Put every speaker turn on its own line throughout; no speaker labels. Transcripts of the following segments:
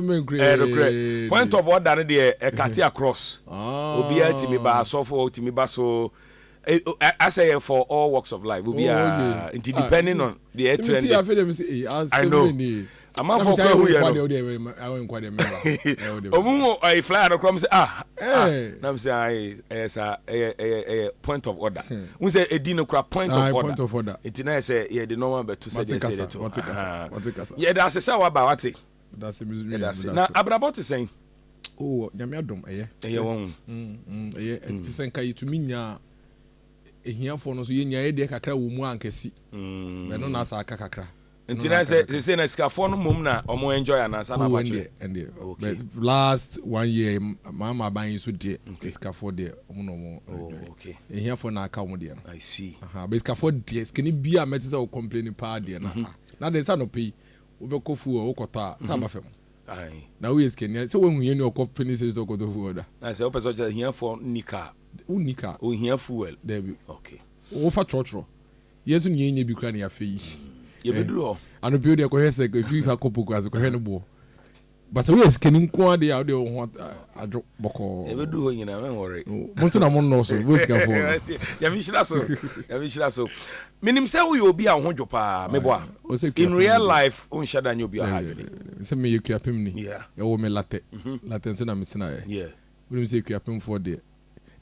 regret point of order no deɛ ɛkate across obiara tumi ba asɔfo tumi ba so asɛ yɛ for all works of life obiara nti depending on deɛ ɛtrɛ nde i know amanfoɔ kɔ ehu yɛ no ɔmu ɛyɛ flyer no kora mu sɛ ah nam sɛ ɛyɛ saa ɛyɛ ɛyɛ ɛyɛ point of order n sɛ ɛdi no kora point of order nti na yɛ sɛ yɛde nɔɔma bɛto sɛ deɛ sɛ yɛde to yɛde ase sɛ waba wate yɛdase na abrabɔ te sɛn. Oh, nyame
adom ɛyɛ. Ɛyɛ wɔn. Mm,
mm, ɛyɛ. Mm.
Ɛte sɛ nka yɛtumi nyaa ahiafoɔ no so yɛnyaeɛ deɛ kakra wɔ mu ankɛsi mm. ɛno na asa aka kakra nti na sɛ
sɛ na sikafoɔ no mmom na ɔmo enjoy anaasa na abakyerɛ ɛndeɛ
okay last one year maama aban yi so deɛ sikafoɔ deɛ ɔmo na ɔmo oh, enjoy okay ehiafoɔ
na aka ɔmo
deɛ no i see aha bɛ sikafoɔ
deɛ
sikani bi a mɛte sɛ ɔcomplain paa deɛ na mhm. ah, na deɛ nsa nɔpɛ yi Wobɛkɔ fuo a wokɔtɔ a sɛ aba fam na woyɛ
sikani a sɛ
woahu hiani a ɔkɔ penny series hɔ kɔtɔ fuel da. Na sɛ wopɛ sɛ ɔkyerɛ ahiafoɔ
nni car. Wonni car. Ohia
fuel.
Daabi. Okay.
Wofa
trɔtrɔ.
Yɛn nso nea yɛnnya bi koraa na yɛafɛ yi. Yɛbɛduru hɔ.
Anɔpa yi deɛ kɔhwɛ sɛ
ɛfiri ha kɔ Poku ase kɔhwɛ ne boɔ. But sɛ woyɛ sikani nko ara deɛ a, wodeɛ wo ho adwo bɔkɔɔ. Deɛ ɛbɛdu hɔ nyinaa,
mɛnwɔre. Mo nso na mo nnɔɔso,
mo sikafoɔ no. Nyame nhyira so,
Nyame nhyira so. Menim sɛ woyɛ obi a wo ho dwo paa, meboa. In real life, wonhyɛ da nyɛ obi a ɔha adwene. Sɛ meyɛ Akuapemni,
yɛwoo me Latɛ. Latɛ nso na metenaeɛ. Wonim sɛ
Akuapemfoɔ
deɛ,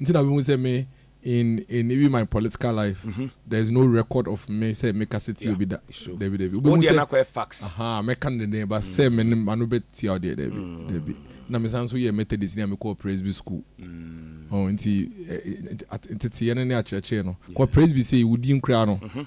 nti na wohu sɛ me in in even my political life mm -hmm. there is no record of me sɛ meka sɛ tia obi da dabi dabi wobɛhu sɛ
aha mɛka no denden ba
sɛ me ne ano bɛtia wo deɛ dabi dabi na mesan nso yɛ methodist ne a mekɔɔ presby school mm. oh, nti nteteɛ no ne akyerɛkyerɛ no kɔ presby sɛ wodin koraa no mm -hmm.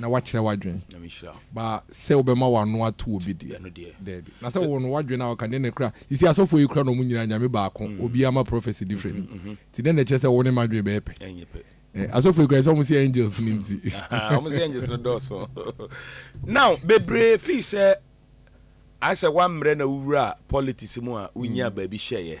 na woakyerɛ w'adwene. Ba sɛ wobɛma w'ano ato obi deɛ, daabi. Na sɛ wowɔ no w'adwene a woka, deɛ na ɛkura. Seesei asɔfoɔ yi kura na wɔn nyinaa Nyame baako, obiara ma prophecy different yi. Nti dɛn na ɛkyerɛ sɛ wo ne m'adwene bɛyɛ pɛ? Eh, asɔfoɔ yi kura sɛ wɔn se angels no nti. Aha, wɔn se angels
no dɔɔso. Now, bebree feel sɛ ayɛ sɛ woammrɛ na wowura politics mu a wonyaa baabi hyɛeɛ.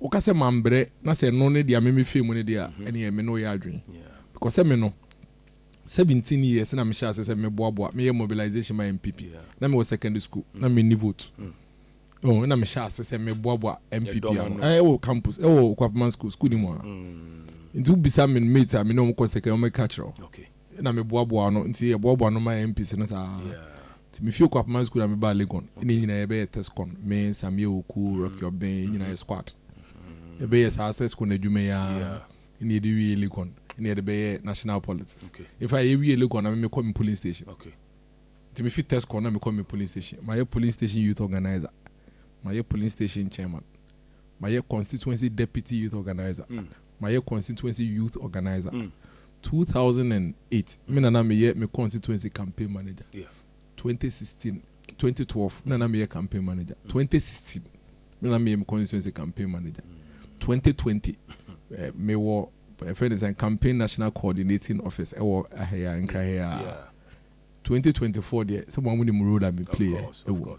Woka sɛ mambrɛ na sɛ no ne dea me me fie mu no deɛ a ɛneɛ me ne wo yɛ adwen because sɛ me no seventeen years na mehyɛ ase sɛ me boa boa me yɛ mobilization ma NPP na me wɔ secondary school na me ni vote oh na mehyɛ ase sɛ me boa boa NPP ano eh wɔ campus eh wɔ Kwapama school school ni mu a nti wo bisa me mate a me ne wɔn kɔ secondary wɔn ka kyerɛ okay na me boa
boa
no nti yɛ boa boa no ma MPC no saa nti me fie kɔ apama school na me ba Legon ne nyina yɛ bɛyɛ tescon me Samia Oku Rocky Obden yɛ nyina yɛ squad yɛ bɛyɛ saa tescon adwuma yi ara ne yɛde wie Legon ne yɛde bɛyɛ national politics in fact yɛ wie
Legon na
me me kɔ me polling station
nti me fi
tescon na me kɔ me polling station ma yɛ polling station youth organizer ma yɛ polling station chairman ma yɛ constituency deputy youth organizer mm. mayɛ constituency youth organiser two thousand and eight me na na meyɛ me constituency campaign manager twenty sixteen twenty twelve me na na meyɛ campaign manager twenty sixteen me na na meyɛ me constituency campaign manager twenty twenty eh, mewɔ ɛfɛ ne sɛ campaign national coordinating office ɛwɔ ahɛya nkraheya twenty twenty four deɛ sɛ mo amu ne mu role a me play ɛwɔ.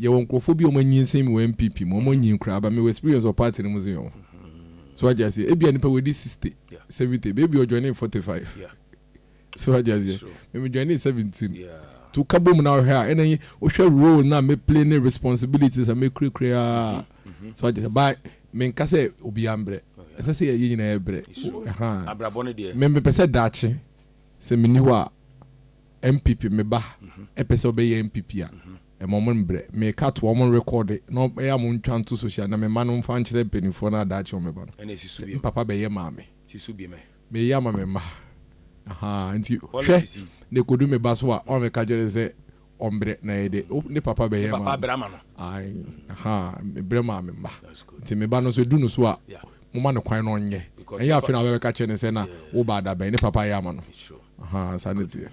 Yɛwɔ nkorɔfoɔ bi a wɔanyinsen mewɔ NPP mu wɔnyin koraa but mewɔ experience wɔ party no mu dze ho so wate aseɛ ebia nipa wadi sixty seventy but ebia ɔjoinee forty five so wate aseɛ me me joinee seventeen nti woka bom na wohwɛ a ɛna wohwɛ role no a me play ne responsibilities a me kura kura a so wate aseɛ but menka sɛ obiara mbrɛ ɛsɛ sɛ yɛn nyinaa yɛbrɛ ɛhaa
me mepɛ sɛ daakye
sɛ menni hɔ a NPP me ba ɛpɛ sɛ ɔbɛyɛ NPP a ɛma ɔmo mbrɛ meka toa ɔmo rekɔɔde na ɔmo ɛyɛ a mo ntwa nto social na me mma no nfa nkyerɛ mpaninfoɔ na daakye ɔmo bɛba no sɛ me papa bɛyɛ maame
meyɛ ama me mma
ahaa nti hwɛ na ɛkɔdu me ba so a ɔma meka kyerɛ no sɛ ɔmbrɛ na ɛyɛ dɛ ne papa bɛyɛ maame ae
ahaa
mebrɛ maa me mma nti me ba no nso ɛdu no so a moma no kwan na ɔnyɛ ɛnyɛ afei na wobɛka kyerɛ no sɛ na wo ba adabɛn ne papa yɛ ama no. Ahaa saa ne teɛ.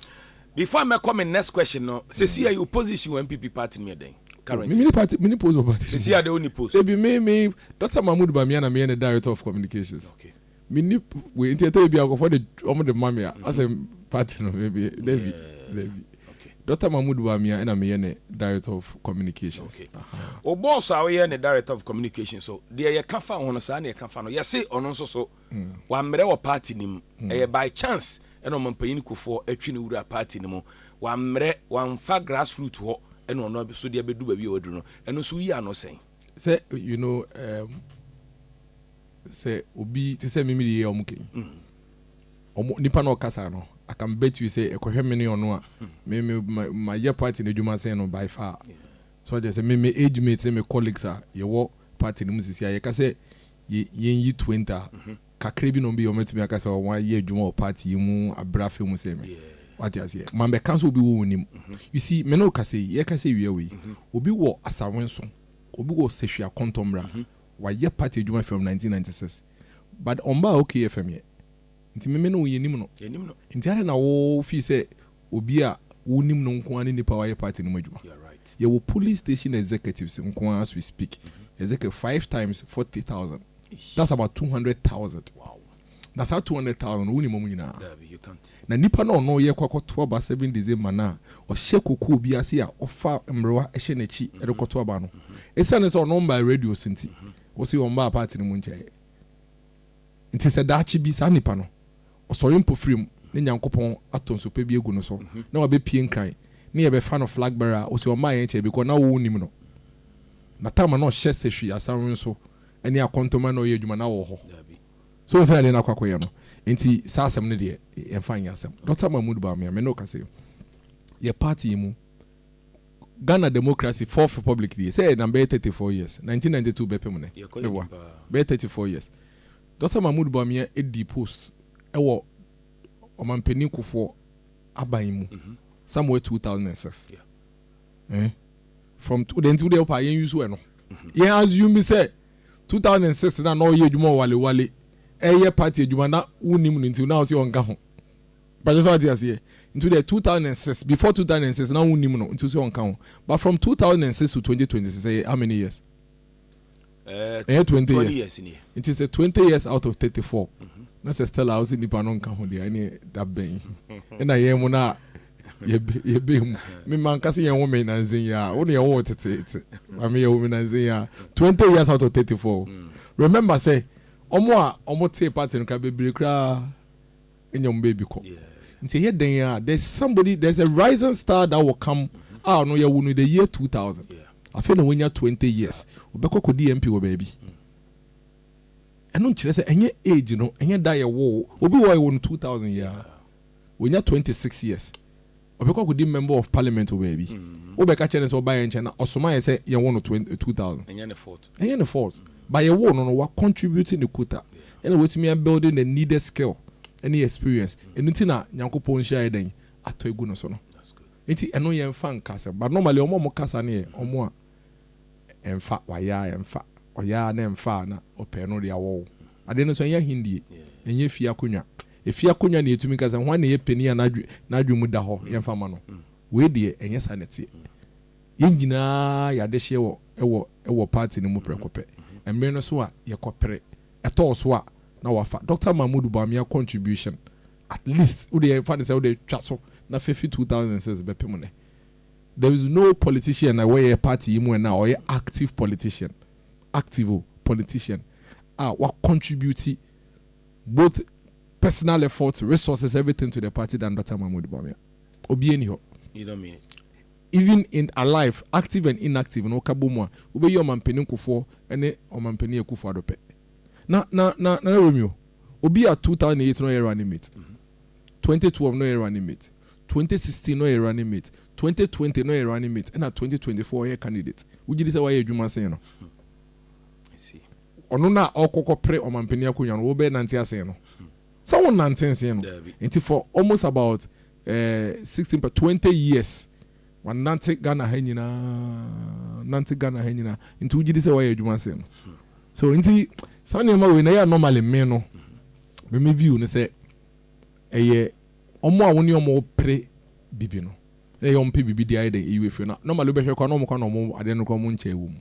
Before a
mɛkɔ me next question no, sɛsi a wo position wɔ NPP party no mu yɛ dɛn currently? Menni party, menni post wɔ party
no mu. Sɛsi a deɛ wonni post? Dabi,
me, me,
Doctor Mahmood Bamia na meyɛ ne Director of Communications. Okay. Menni
wei,
nti ɛtɔ bi a nkɔfoɔ de, wɔn de ma me a, asɛ party no, me, me, dabi, dabi. Okay.
Doctor Mahmood
Bamia ɛna meyɛ ne Director of Communications. Okay.
Aha. Wo boss a woyɛ ne Director of Communications so, deɛ yɛka fa ho no, saa na yɛka fa no. Yɛse ɔno nso so. Wammrɛ wɔ party no mu. Ɛyɛ by chance na ɔmampanyin Kufour atwi no wura party no mu. Wammrɛ, wamfa grass root hɔ na ɔno nso de abedu baabi a waduru no. Ɛno nso woyi ano sɛn? Sɛ you know
um, sɛ obi te sɛ Mimi yɛ ɔmo kɛn. Ɔmo nipa na ɔkasa no, I can bet you sɛ ɛkɔhwɛ me ne ɔno a, me me mayɛ party no adwuma sen no by far. So ɔte sɛ me me age mates ne me colleagues a yɛwɔ party no mu sisi a yɛka sɛ Yɛn yi Twinta kakra bi nom bi a wɔatumi aka sɛ wɔn ayɛ adwuma wɔ party yi mu abrɛ afei mu sɛ me. Wate aseɛ? Ma bɛka nso obi wɔ wɔn nim. You see, me ne wo kasa yi, yɛkasa awia wei, obi wɔ Asawenso, obi wɔ Sahwi Akontombra, wayɛ party adwuma from 1996, but ɔmbaa OKFM yɛ. Nti me me ne wo yɛnim no. Nti adɛn na wo feel sɛ Obi a wonim no nko ara ne nipa a wayɛ party no mu adwuma. Yɛwɔ polling station executives nko ara as we speak, ɛsɛ kɛ five times forty thousand, that's about two hundred thousand.
Na saa two hundred
thousand no wonim wɔn nyinaa. Na
nipa no a ɔno
yɛkɔ akɔto aba seven December no a ɔhyɛ kokoo bi ase a ɔfa mmerewa hyɛ n'akyi de kɔto aba no, esiane sɛ ɔno mmaa radio so nti, wose ɔmmaa party no mu nkyɛeɛ. Nti sɛ daakye bi saa nipa no Ɔsɔre mpofirim na Nyankopɔn atɔ nsu pa bi agu no so na wabɛpue nkran na yɛbɛfa no flag bearer a ose ɔmmaa yɛn kyɛɛ because na wo nnim no. Na time a na ɔhyɛ sehwi asawe nso ne akɔntɔma na ɔyɛ adwuma na wɔ hɔ. So wohu sɛnea deɛ na akɔ akɔyɛ no nti saa asɛm no deɛ yɛmfa nyɛ asɛm. Doctor Mahmood Bawumia me ne wo ka sei yɛ party yi mu Ghana democracy fourth republic die sɛ ɛnam bɛyɛ 34 years 1992 bɛpem nnɛ meboa bɛyɛ 34 years Dɔkta Mahmoud Bawumia dii post wɔ Ɔmanpanin Kufuor aban mu somewhere two thousand and six eh from wodɛ nti wodɛ wopaa yɛn use ɛno yɛn assume bi sɛ two thousand and six na na ɔyɛ adwuma wɔ wale wale ɛyɛ party adwuma na wonim no nti na ɔsɛ ɔnka ho mpakyɛ sɛ wate aseɛ nti wodɛ two thousand and six before two thousand and six na wonim no nti ɔsɛ ɔnka ho but from two thousand and six to twenty twenty six ɛyɛ how many years. Eh ɛnyɛ twenty twenty years years nie. nti sɛ twenty years out of thirty four na sɛ Stella wose nipa no nka ho deɛ ɛneɛ da bɛn ɛna yɛn mu no a yɛbɛ yɛbɛ mu me ma nka sɛ yɛn wo me nanzen yi a wo ne yɛn wo wo teteete maame yɛn wo me nanzen yi a twenty years out of thirty four remember sɛ ɔmo a ɔmo tee party no koraa bebree koraa ɛnna wɔn baabi kɔ nti ɛyɛ dɛn a there's somebody there's a rising star that will come a ɔno yɛwo no the year 2000 afei na wanya 20 years ɔbɛkɔ kɔdi mp wɔ baabi ɛno nkyerɛ sɛ ɛnyɛ age no ɛnyɛ da yɛwo obi wɔ yɛwo no 2000 yɛ a wɔnya 26 years Ɔbɛkɔ akɔdi member of parliament wɔ baabi. Wobɛka kyerɛ no sɛ ɔba yɛn nkyɛn na ɔsoma yɛn sɛ yɛnwo no twen, two thousand. Ɛnyɛ ne fault. Ɛnyɛ ne fault. But yɛwoo no no, wa contribute ne quota. Ɛna watumi a build the needed skill ne experience. Ɛno nti na Nyankopɔn nhyira ayɛ dɛn? Atɔ agu no so no. Nti ɛno yɛnfa nka asɛm. But normally wɔn a wɔka saa no yɛ wɔn a ɛnfa, wayɛ a ɛnfa, ɔyɛ a na ɛnfa a na ɔpɛ ɛno deɛ awɔ wo. Adeɛ no nso ɛnyɛ ahendie, ɛnyɛ fie akonnwa. Efi akonnwa na yɛtumi ka sɛ, Hwan na ɛyɛ panin a n'adwene mu da hɔ? Yɛmfa mma no. Wei deɛ, ɛnyɛ saa na ɛteɛ. Yɛn nyinaa yɛ adehyeɛ wɔ wɔ wɔ paati no mu prɛko pɛ. Mmere no so a, yɛkɔpere. Ɛtɔɔ so a, na wɔafa Dɔkta Mahmoud Bawumia contribution, at least, wode yɛmfa no sɛ wode twa so na fa fi 2006 bɛpem nnɛ. There is no politician a ɛwɔ yɛn paati yi mu nnɛ a ɔyɛ active politician, active o, politician, a wacontribute, both personal effort, resources, everything to the
party
than Doctor Mahmoud
Bawumia.
Obiara
nni hɔ.
You don't mean
it.
Even in alive, active and inactive no woka bɔ mu a, wobɛyi Ɔmampanin Nkofoɔ ne Ɔmampanin Akufo Addo pɛ. Na, na, na, Nana Romeo, obi a 2008 na ɔyɛ running mate, 2012 na ɔyɛ running mate, 2016 na ɔyɛ running mate, 2020 na ɔyɛ running mate, ɛna 2024 ɔyɛ candidate, wogye di sɛ wayɛ adwuma sen no?
si. Ɔno no a ɔkɔkɔ
pere ɔmanpanin akonnwa no wo bɛ nante asen no sɛ wo nante nsen no nti for almost about eh, 16 per 20 years wa nante Ghana ha nyina nante Ghana ha nyina nti wogyidi sɛ wayɛ adwuma sen no so nti saa nneɛma wei na yɛ normally me no me me view no sɛ ɛyɛ ɔmo a wo ne ɔmo pere bibi no na yɛ ɔmo pɛ bibi di ayɛ dɛn eyi wɔ efie na normally wobɛhwɛ kɔ na ɔmo kɔ na ɔmo adeɛ no kɔ ɔmo nkyɛn wɔ mu.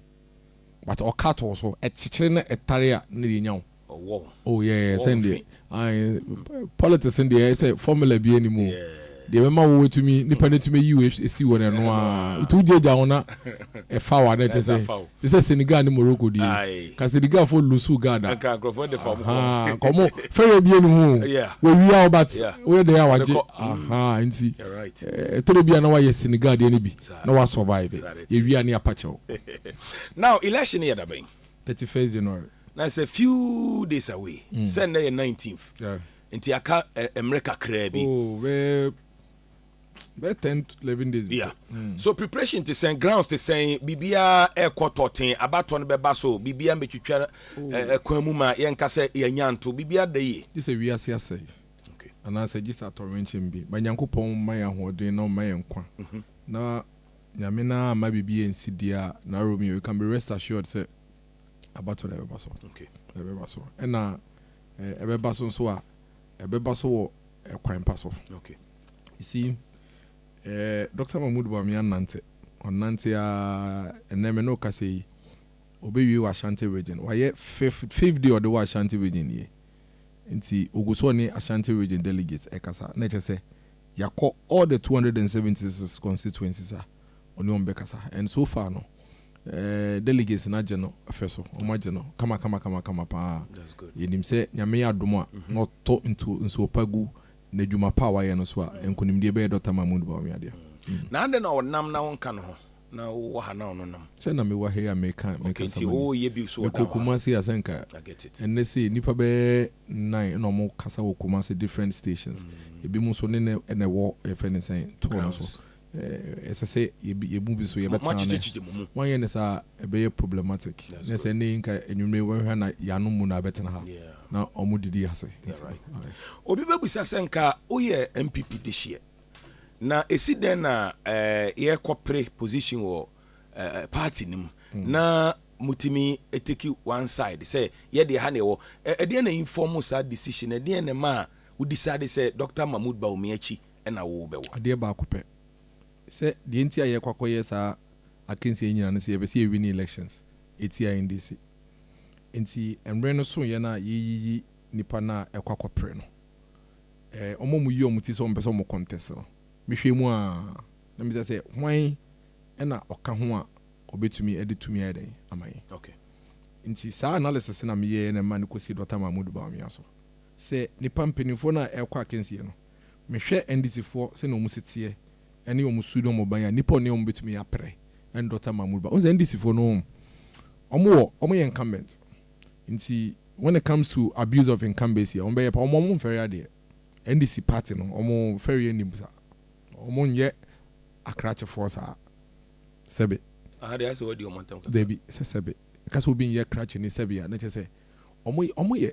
but ɔka too so ɛkyekyere na ɛtare a na deɛ nya wo oh yeah sɛn deɛ ae politics no deɛ sɛ formula bi anim o deɛ bɛma wo atumi nipa no atumi ayi wo esi wɔ n'ɛno a wotu gyagya ho na ɛfa wa na ɛkyɛ sɛ te sɛ Senegal ne Morocco deɛ ka Senegal fo lusu gada ahaa kɔmo fɛrɛ bi anim o wɔwia wo but woyɛ dɛn a wagye ahaa nti ɛtɔrɔ bi a na wayɛ Senegal deɛ no bi na wa survive yɛ wia ne apa kyɛw. Now
election no yɛ da bɛn? Thirty first
January. Na it's a few
days away. Mm. Sɛ nnɛ yɛ nineteenth. Yeah. Nti aka mmerɛ kakraa bi. Oh, bɛɛ
bɛɛ ten to eleven days bi. Yeah. Mm. So
preparation te sɛn grounds te sɛn biribiara ɛkɔ tɔten abatɔ no bɛba so biribiara mbɛtwitwa ɛkwan mu ma yɛnka sɛ yɛnya nto biribiara da yie. Gye sɛ wiase asɛe.
Anaasɛ gye sɛ atɔwrɛnkyɛm bi ma Nyankopɔn mma yɛn ahoɔden na ɔmma yɛn nkwa, na Nyame no ara amma biribi ansi deɛ a Naomi, you can be rest assured sɛ abato no ɛbɛba so. Ɛbɛba so. Ɛna ɛbɛba so nso a, ɛbɛba so wɔ ɛkwan pa so. You see, eh, Dr. Mahmoud Bawumia nnante. Ɔnnante ara, ɛnɛ me ne ɔkasa yi, ɔbɛwie wɔ Ashanti region. Wayɛ fifth, fifth day ɔde wɔ Ashanti region nie. nti ogu so ɔne Ashanti Region delegates rekasa na ɛkyerɛ sɛ yɛakɔ all the two hundred and seventy six constituencies a ɔne wɔn bɛkasa and so far no eh, delegates no agye no fɛ so, wɔn agye no kama kama kama kama paa. That's good. Yɛnim sɛ Nyame yɛ adom a na ɔtɔ ntu nsuo pa gu n'adwuma pa a wayɛ no so a nkonimdie bɛyɛ Dɔkta Mahmood Bawumia dea. Na adɛn na ɔnam
na wonka no ho? Na wo wɔ ha na ɔno nam. Sɛ na me wɔ ha yi a meka
mekasa ma ni. Ok nti o yɛ bi
so wɔ da hɔ a. Mekɔ Kumasi a sɛ nka
ɛnnɛ sei
nnipa bɛyɛ
nine na ɔmo kasa wɔ Kumasi different stations. Ebi mo nso ne no na ɛwɔ yɛfrɛ no sɛn tour no so. Ɛsɛ sɛ yɛ mu bi so yɛbɛ tena ne. Wɔn yɛ no saa ɛbɛyɛ problematic. Nɛ sɛ ɛnnɛ yi nka anwumerɛ wɔn hwɛ na yɛanom mu na abɛ tena ha na ɔmo didi ase. Obi bɛ bisa sɛ nka o yɛ NPP de hyeɛ Na esi dɛn na yɛkɔpere position wɔ party no mu na mutumi take one side sɛ yɛ deɛ ha na yɛwɔ? Ɛdeɛn na inform saa decision no? Ɛdeɛn na ɛmaa wo decide sɛ Doctor Mahmood Bawumia akyi na wobɛwɔ? Adeɛ baako pɛ, sɛ deɛ nti a yɛkɔ akɔyɛ saa akansie yi nyinaa ne sɛ yɛpɛ sɛ yɛ wini elections ɛtia NDC. Nti mmere no sooeɛ no a yɛreyiyi nnipa no a ɛkɔ akɔpere no. eh, wɔn a wɔyi wɔn ti sɛ wɔmpɛ sɛ wɔn contest no, mehwɛ mu a, na mebisa sɛ, hwan na ɔka ho a ɔbɛtumi de tumi ayɛ dɛn ama yɛn? Okay. Nti saa analysis na meyɛɛ na ɛma no kɔsi Dɔkta Mahmood Bawumia so. Sɛ nnipa mpanimfoɔ no a ɛrekɔ akansie no, mehwɛ NDCfoɔ sɛnea wɔn si teɛ ɛne wɔn su ne wɔn ban a, nnipa a ɔne wɔn bɛtumi apere ɛne Dɔkta Mahmood Bawumia. Wohu sɛ NDCfoɔ no, wɔn wɔ, wɔn yɛ incumbent. Nti when it comes to abuse of incumbency ɔmo bɛyɛ paa, ɔmo ɔmo nfɛre adeɛ. NDC party no ɔmo fɛreɛ nnim saa. Ɔmo nyɛ akrakyefoɔ saa. Sɛbe. Aha deɛ ayɛ sɛ
wadi ɔmo ntɛm kakra. Dabi, sɛ sɛbe.
Ka sɛ obi nyɛ krakyeni sɛbe a na kyerɛ sɛ ɔmo ɔmo yɛ.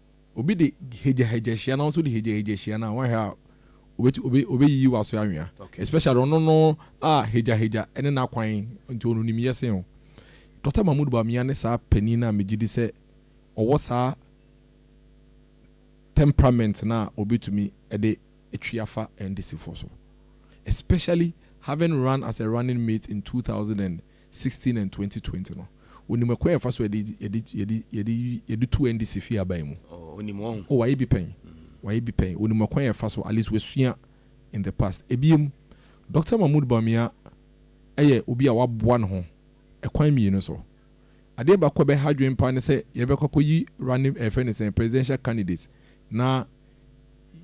Obi de hagyahagya hyia na wo nso de hagyahagya hyia no a, woanhwɛ a obetu obe obeyiyi w'aso anwea. Especially ɔno no a hagyahagya ne n'akwan nti ɔno nim yɛ sen wo. Dɔkta Mahmoud Bawumia ne saa panin no a megye di sɛ ɔwɔ saa temperament no a obetumi de atwi afa NDCfoɔ so. Especially having run as a running mate in two thousand and sixteen and twenty twenty no onim ɛkwan a yɛfa so a yɛde yɛde yɛde yɛde yɛde tu NDC fii aban mu. Oh, onim wɔn. Oh, wayɛ bi pɛn. Wayɛ bi pɛn. Onim ɛkwan a yɛfa so, at least wasua in the past. Ebiem, Doctor Mahmood Bawumia yɛ obi a waboa ne ho ɛkwan mmienu so. Adeɛ baako a ɛbɛha adwene paa ne sɛ yɛbɛkɔ akɔyi running ɛɛ fɛ ne sɛn presidential candidate na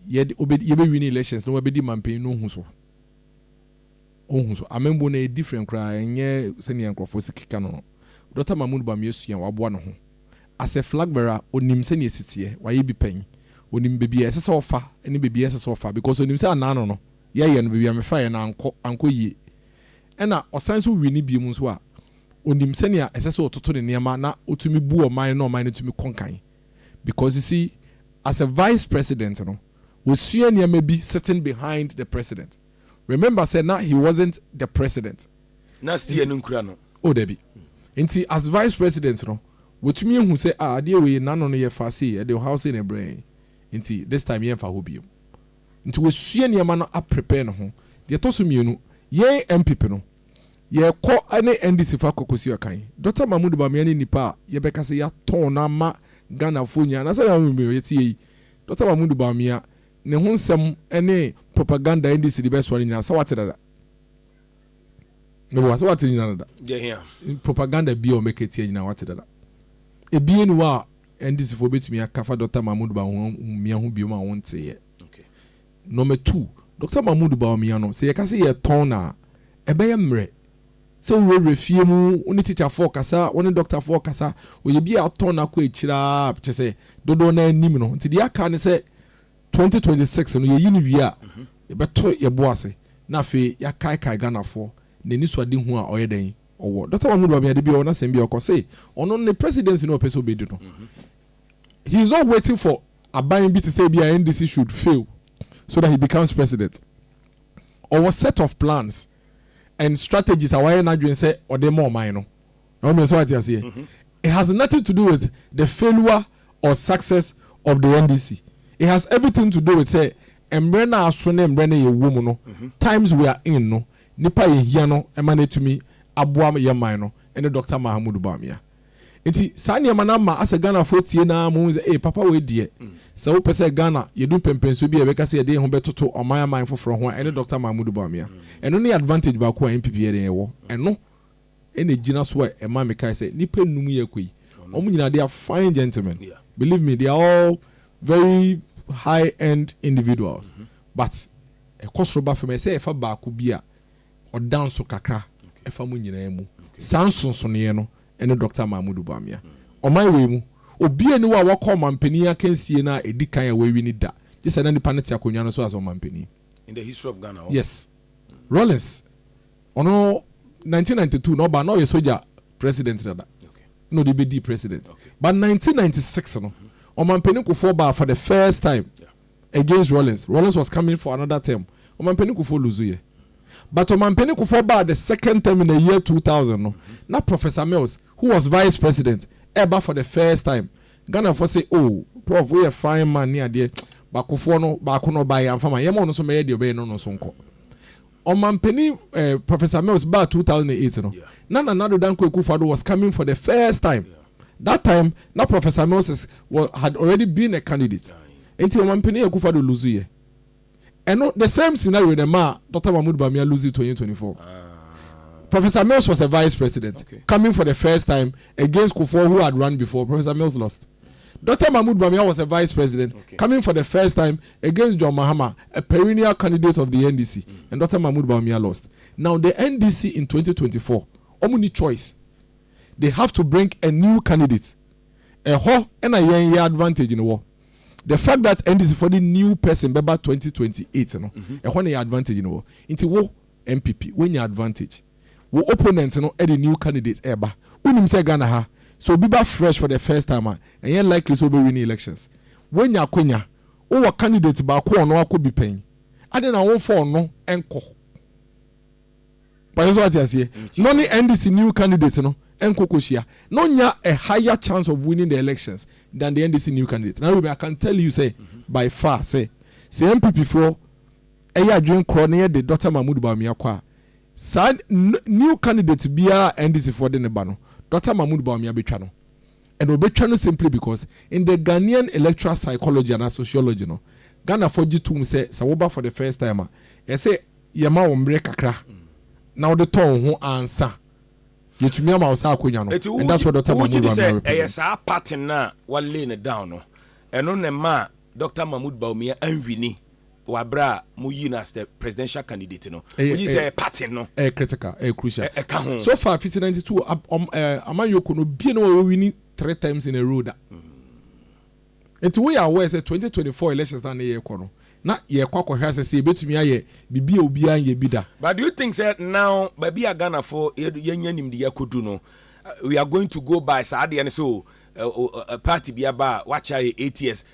yɛde ɔbɛ yɛbɛ wini elections na wabɛdi manpanyin no ho so. Ohu so amembo no, ɛyɛ different koraa, ɛnyɛ sɛnea nkorɔfoɔ si keka no no. Dɔkta Mahmood Bawumia sua, waboa ne ho. As a flag bearer, ɔnim sɛnea ɛsi teɛ, wayɛ bi pɛn. Ɔnim baabi a ɛsɛ sɛ ɔfa ne baabi a ɛnsɛ sɛ ɔfa because ɔnim sɛ anaa no no, yɛyɛ no, baabi a mefaeɛ no ankɔ, ankɔ yie. Ɛna ɔsan nso wini biom nso a, ɔnim sɛnea ɛsɛ sɛ ɔtoto ne nneɛma na ɔtumi bu ɔman na ɔman no tumi kɔ nkan. Because you see, as a vice president no, wasua nneɛma bi sitting behind the president. remember sɛ na he wasn't the president. Na steer Nti, no
nkura no. Oh dabi.
Nti as vice president no, watumi ahu sɛ ah adeɛ wei n'ano no yɛ faa sei, ɛde ɔhaw sei na ɛbrɛ yɛn. Nti this time yɛmfa hɔ biom. Nti wasua nneɛma no a prepare ne ho. Deɛ ɛtɔ so mmienu, yɛn NPP no, yɛkɔ ne NDC fo akɔ kɔsi akan. Dɔkta Mahmood Bawumia ne nipa a yɛbɛka sɛ yɛatɔn no ama Ghanafoɔ nyinaa. Anaa sɛdeɛ na wɔn mu bi yɛte yɛ yi, Dɔkta Mahmood Bawumia Ne ho nsɛm ne propaganda a NDC de bɛsoa no nyinaa, sɛ woate dada? Meboa, sɛ woate ne nyinaa dada? Deɛ hia. Propaganda biara a wɔbɛka atia nyinaa, woate dada? Ebie ni hɔ a NDC foɔ bɛtumi aka afa Dɔkta Mahmood Bawumia ho biom a wonteeɛ? Number two, Dɔkta Mahmood Bawumia no, sɛ yɛka sɛ yɛtɔn no a, ɛbɛyɛ mmerɛ. Sɛ wo wura fie mu, wo ne tikya foɔ kasa, wo ne dɔkta foɔ kasa, ɔyɛ bi a atɔ no akɔ akyire ara, kyerɛ sɛ dodoɔ no ara nim no. Nti deɛ aka ne sɛ 2026 no yɛyi no wie a, yɛbɛto yɛn bo ase na afei yɛakaekae Ghanafoɔ n'anisoadehu a ɔyɛ dɛn? ɔwɔ. Dɔkta Mahmood Bawumia da bi ɔwɔ n'asɛm bi a ɔkɔ se ɔno ne presidency no ɔpɛ sɛ ɔbɛdi no, he is not waiting for aban bi te sɛ ebi a NDC should fail so that he becomes president. Ɔwɔ set of plans. and strategies a wayɛ n'adwene sɛ ɔde ma ɔman no. I hope sɛ wate aseɛ. It has nothing to do with the failure or success of the NDC. It has everything to do with sɛ mmerɛ no a aso ne mmerɛ no a yɛwɔ mu no, times we are in no, nipa a yɛhia no ma no atumi aboa yɛn man no ne Doctor Mahamudu Bawumia. Nti saa nneɛma no ama asɛ Ghanafoɔ atie no ara ma wohu sɛ ee papa wei deɛ sɛ wopɛ sɛ Ghana yɛdu mpɛnpɛnsoɔ bi a yɛbɛka sɛ yɛde yɛn ho bɛtoto aman aman foforɔ ho a ɛne Dɔkta Mahmudu Bawumia. Ɛno ne advantage baako a NPP yɛ dɛn ɛwɔ. Ɛno na ɛgyina so a ɛma mekae sɛ nnipa nnum yi a ɛkɔ yi wɔn nyinaa they are fine gentlemen believe me they are all very high end individuals but ɛkɔ soro ba fam ɛsɛ sɛ yɛfa baako bi a ɔda nso kakra ɛfa mo nyinaa mu. Saa nsonsonoeɛ no ne Dɔkta Mahmoud Bawumia. Ɔman wei mu, obiara nni hɔ a wakɔ ɔmanpanin akansie no a ɛdi kan a wawi no da, gye sɛ na nipa no te akonnwa no so as ɔmanpanin. In the history of
Ghana hɔ. Yes.
Rawlings, ɔno 1992 na ɔbaa, na ɔyɛ sogya president dada, na ɔde bɛdii president. But 1996 no, ɔmanpanin Kufuor baa for the first time. against Rawlings, Rawlings was coming for another term, Ɔmanpanin Kufuor lose yɛ but Ɔmanpanin Kufuor baa the second term in the year two thousand no na Professor Mills who was vice president ɛɛba for the first time, Ghanafoɔ se oh Prof woyɛ fine man ne adeɛ but Kufuor no baako na ɔbaeɛ amfa ma yɛn, yɛma ɔno nso mmɛyɛ deɛ ɔbɛyɛ no ɔno nso nkɔ. Ɔmanpanin eh, Professor Mills baa 2008 no, na Nana Addo Dankwa Akufo-Addo was coming for the first time. That time, na Professor Mills is, wa, had already been a candidate. Enti Ɔmanpanin Akufo-Addo lose yɛ. Ɛno, the same scenario na ɛmaa Doctor Mahmoud Bawumia lose 2024. Professor Mills was a vice president, coming for the first time against Kufuor who had run before. Professor Mills lost. Doctor Mahmoud Bawumia was a vice president, coming for the first time Against John Mahama, a perennial candidate of the NDC and Doctor Mahmoud Bawumia lost. Now the NDC in twenty twenty four, wɔn nni choice. They have to bring a new candidate. Ɛhɔ na yɛn yɛ advantage no wɔ. The fact that NDC foɔ de new person bɛba twenty twenty eight no, ɛhɔ na yɛn advantage no wɔ. Nti wo NPP, woanya advantage. Wo opponent no de new candidate ɛreba. Wonim sɛ Ghana ha, sɛ obi ba fresh for the first time a, ɛnyɛ likely sɛ ɔbɛwini elections. Woanya akwanya Wo wɔ candidate baako a ɔno akɔ bi pɛn, adɛn na womfa ɔno nkɔ? Mpakyɛ sɛ wate aseɛ? Na ɔne NDC new candidate no nkɔ kɔ hyia, na ɔnya a higher chance of winning the elections than the NDC new candidate. Na Ruben, I can tell you sɛ by far sɛ, sɛ NPP foɔ yɛ adwene korɔ na yɛde Doctor Mahmood Bawumia kɔ a, saa new candidate biara a NDC foɔ de no ba no, Doctor Mahmood Bawumia bɛtwa no. And wɔbɛtwa no simply because in the Ghanaian electoral psychology anaa sociology no, Ghanafoɔ gye tom sɛ, sɛ woba for the first time a, ɛsɛ yɛma wo mmerɛ kakra na wode tɔ wo ho ansa yɛtumi ama wo saa akwanya no. And that's what Doctor Mahmoud Bawumia represents. Nti wogye di sɛ ɛyɛ saa party
no a wa lay no down no, ɛno na ɛmaa Doctor Mahmoud Bawumia anwini wɔ aberɛ a mo yii no as the presidential candidate no, mo gye di sɛ ɛyɛ party no. Ɛyɛ critical, ɛyɛ crucial.
Ɛka ho. So far fisi ninety two amanyɔkuo no obie na wɔ winni three terms in a row da. Nti wo yɛ aware sɛ twenty twenty four elections na ne yɛ kɔ no na yɛ kɔ akɔ hwɛ asɛ sɛ yɛ bɛtumi ayɛ bibi a obiara nyɛ bi da. But do you think sɛ now
baabi a Ghana fo yɛ nya nimdi yɛ kɔ du no we are going to go by saa adeɛ no sɛ o party bi aba a wakyɛ ayɛ eight years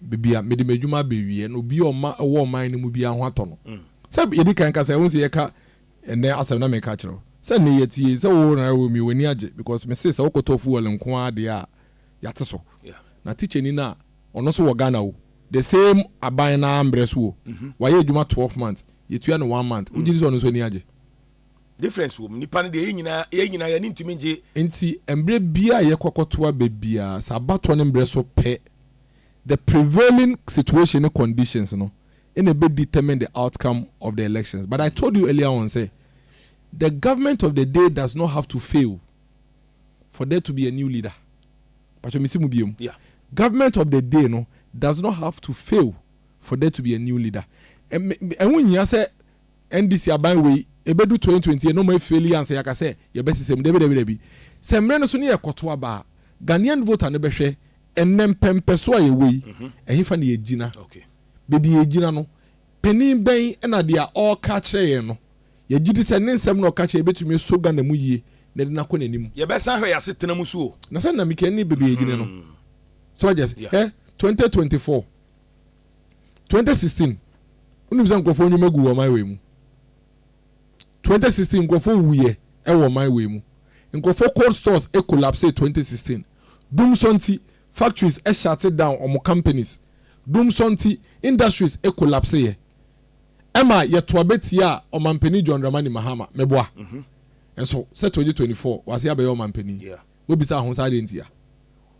baabi a mede m'adwuma bɛwieɛ no, obi a ɔma ɛwɔ ɔman no mu biara ho atɔ no. Sɛ yɛdi kan kasa, ɛho sɛ yɛka ɛnɛ asɛm na meka kyerɛ wo sɛ nnɛ yɛte yei, sɛ wo na wɔ mi, w'ani agye because mese sɛ wokɔtɔ fuel nko ara deɛ a, yɛate so. Na tikyani no a, ɔno nso wɔ Ghana o, the same aban no ara mmerɛ so o, wayɛ adwuma twelve months, yɛtua no one month, wogye di sɛ ɔno nso ani agye? difference
wɔ mu nipa no deɛ yɛn nyinaa yɛn nyinaa yɛn ani ntumi ngye. Nti mbrɛ
biaa a yɛkɔ akɔtoa ba biaa sɛ abatoɔ no mbrɛ so pɛ the prevailing situation ne conditions no na ɛbɛ determine the outcome of the elections but I told you earlier on sɛ the government of the day does not have to fail for there to be a new leader mpakyɛw mesi mu biom yeah. government of the day no does not have to fail for there to be a new leader ɛho nhia sɛ NDC aban wei ɛbɛdu twenty twenty na ɔmo afeeli ansa yɛaka sɛ yɛbɛsesam dabi dabi dabi sɛ mmerɛ no so ne yɛkɔto aba a Ghanaian voter no bɛhwɛ ɛnnɛ mpɛmpɛsoɔ a yɛwɔ yi ɛhefa na yɛgyina baabi a yɛgyina no panin bɛn na deɛ ɔreka akyerɛ yɛn no yɛgyedi sɛ ne nsɛm na ɔka kyerɛ yɛn bɛtumi asɔ Ghana mu yie na ɛde no akɔ n'anim. Yɛbɛsan ahwɛ yɛn asetena mu so o. Na sɛ nnamika ne baabi a yɛgyina no so wagye ase hwɛ twenty twenty four. twenty sixteen wonim sɛ nkurɔfoɔ nnwuma gu wɔ ɔman wei mu twenty sixteen nkurɔfoɔ wuyɛ ɛwɔ ɔman wei mu nkurɔfoɔ cold stores collapse twenty sixteen dum sɔ nti factories ɛhyate down wɔn companies dum sɔ nti industries collapse yɛ ɛma yɛto abɛtia a ɔmampanin John Dramani Mahama meboa mhm. nso sɛ twenty twenty four wase abɛyɛ ɔmampanin wobisa ho saa deɛ ntia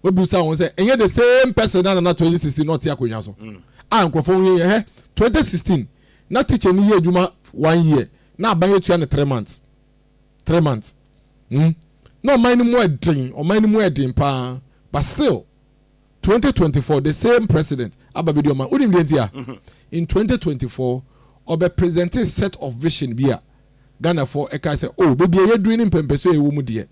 Wobisa wɔn sɛ, ɛnyɛ the same person na nana 2016 na ɔte akonnwa so? Mm. A nkurɔfoɔ ho yɛ yɛ hɛ. 2016 na teacher ni yɛ adwuma one year na aban yɛ tua no three months. Three months. Mm. Na ɔman no mu ɛden, ɔman no mu ɛden paa. But still 2024 the same president aba bɛdi ɔman. Wonim deɛ nti a? Mm-hmm. In 2024 ɔbɛ present a set of vision bi a Ghanafoɔ ɛka sɛ, oh, baabi a yɛduru ne mpɛmpɛsoɔ a ɛwɔ mu deɛ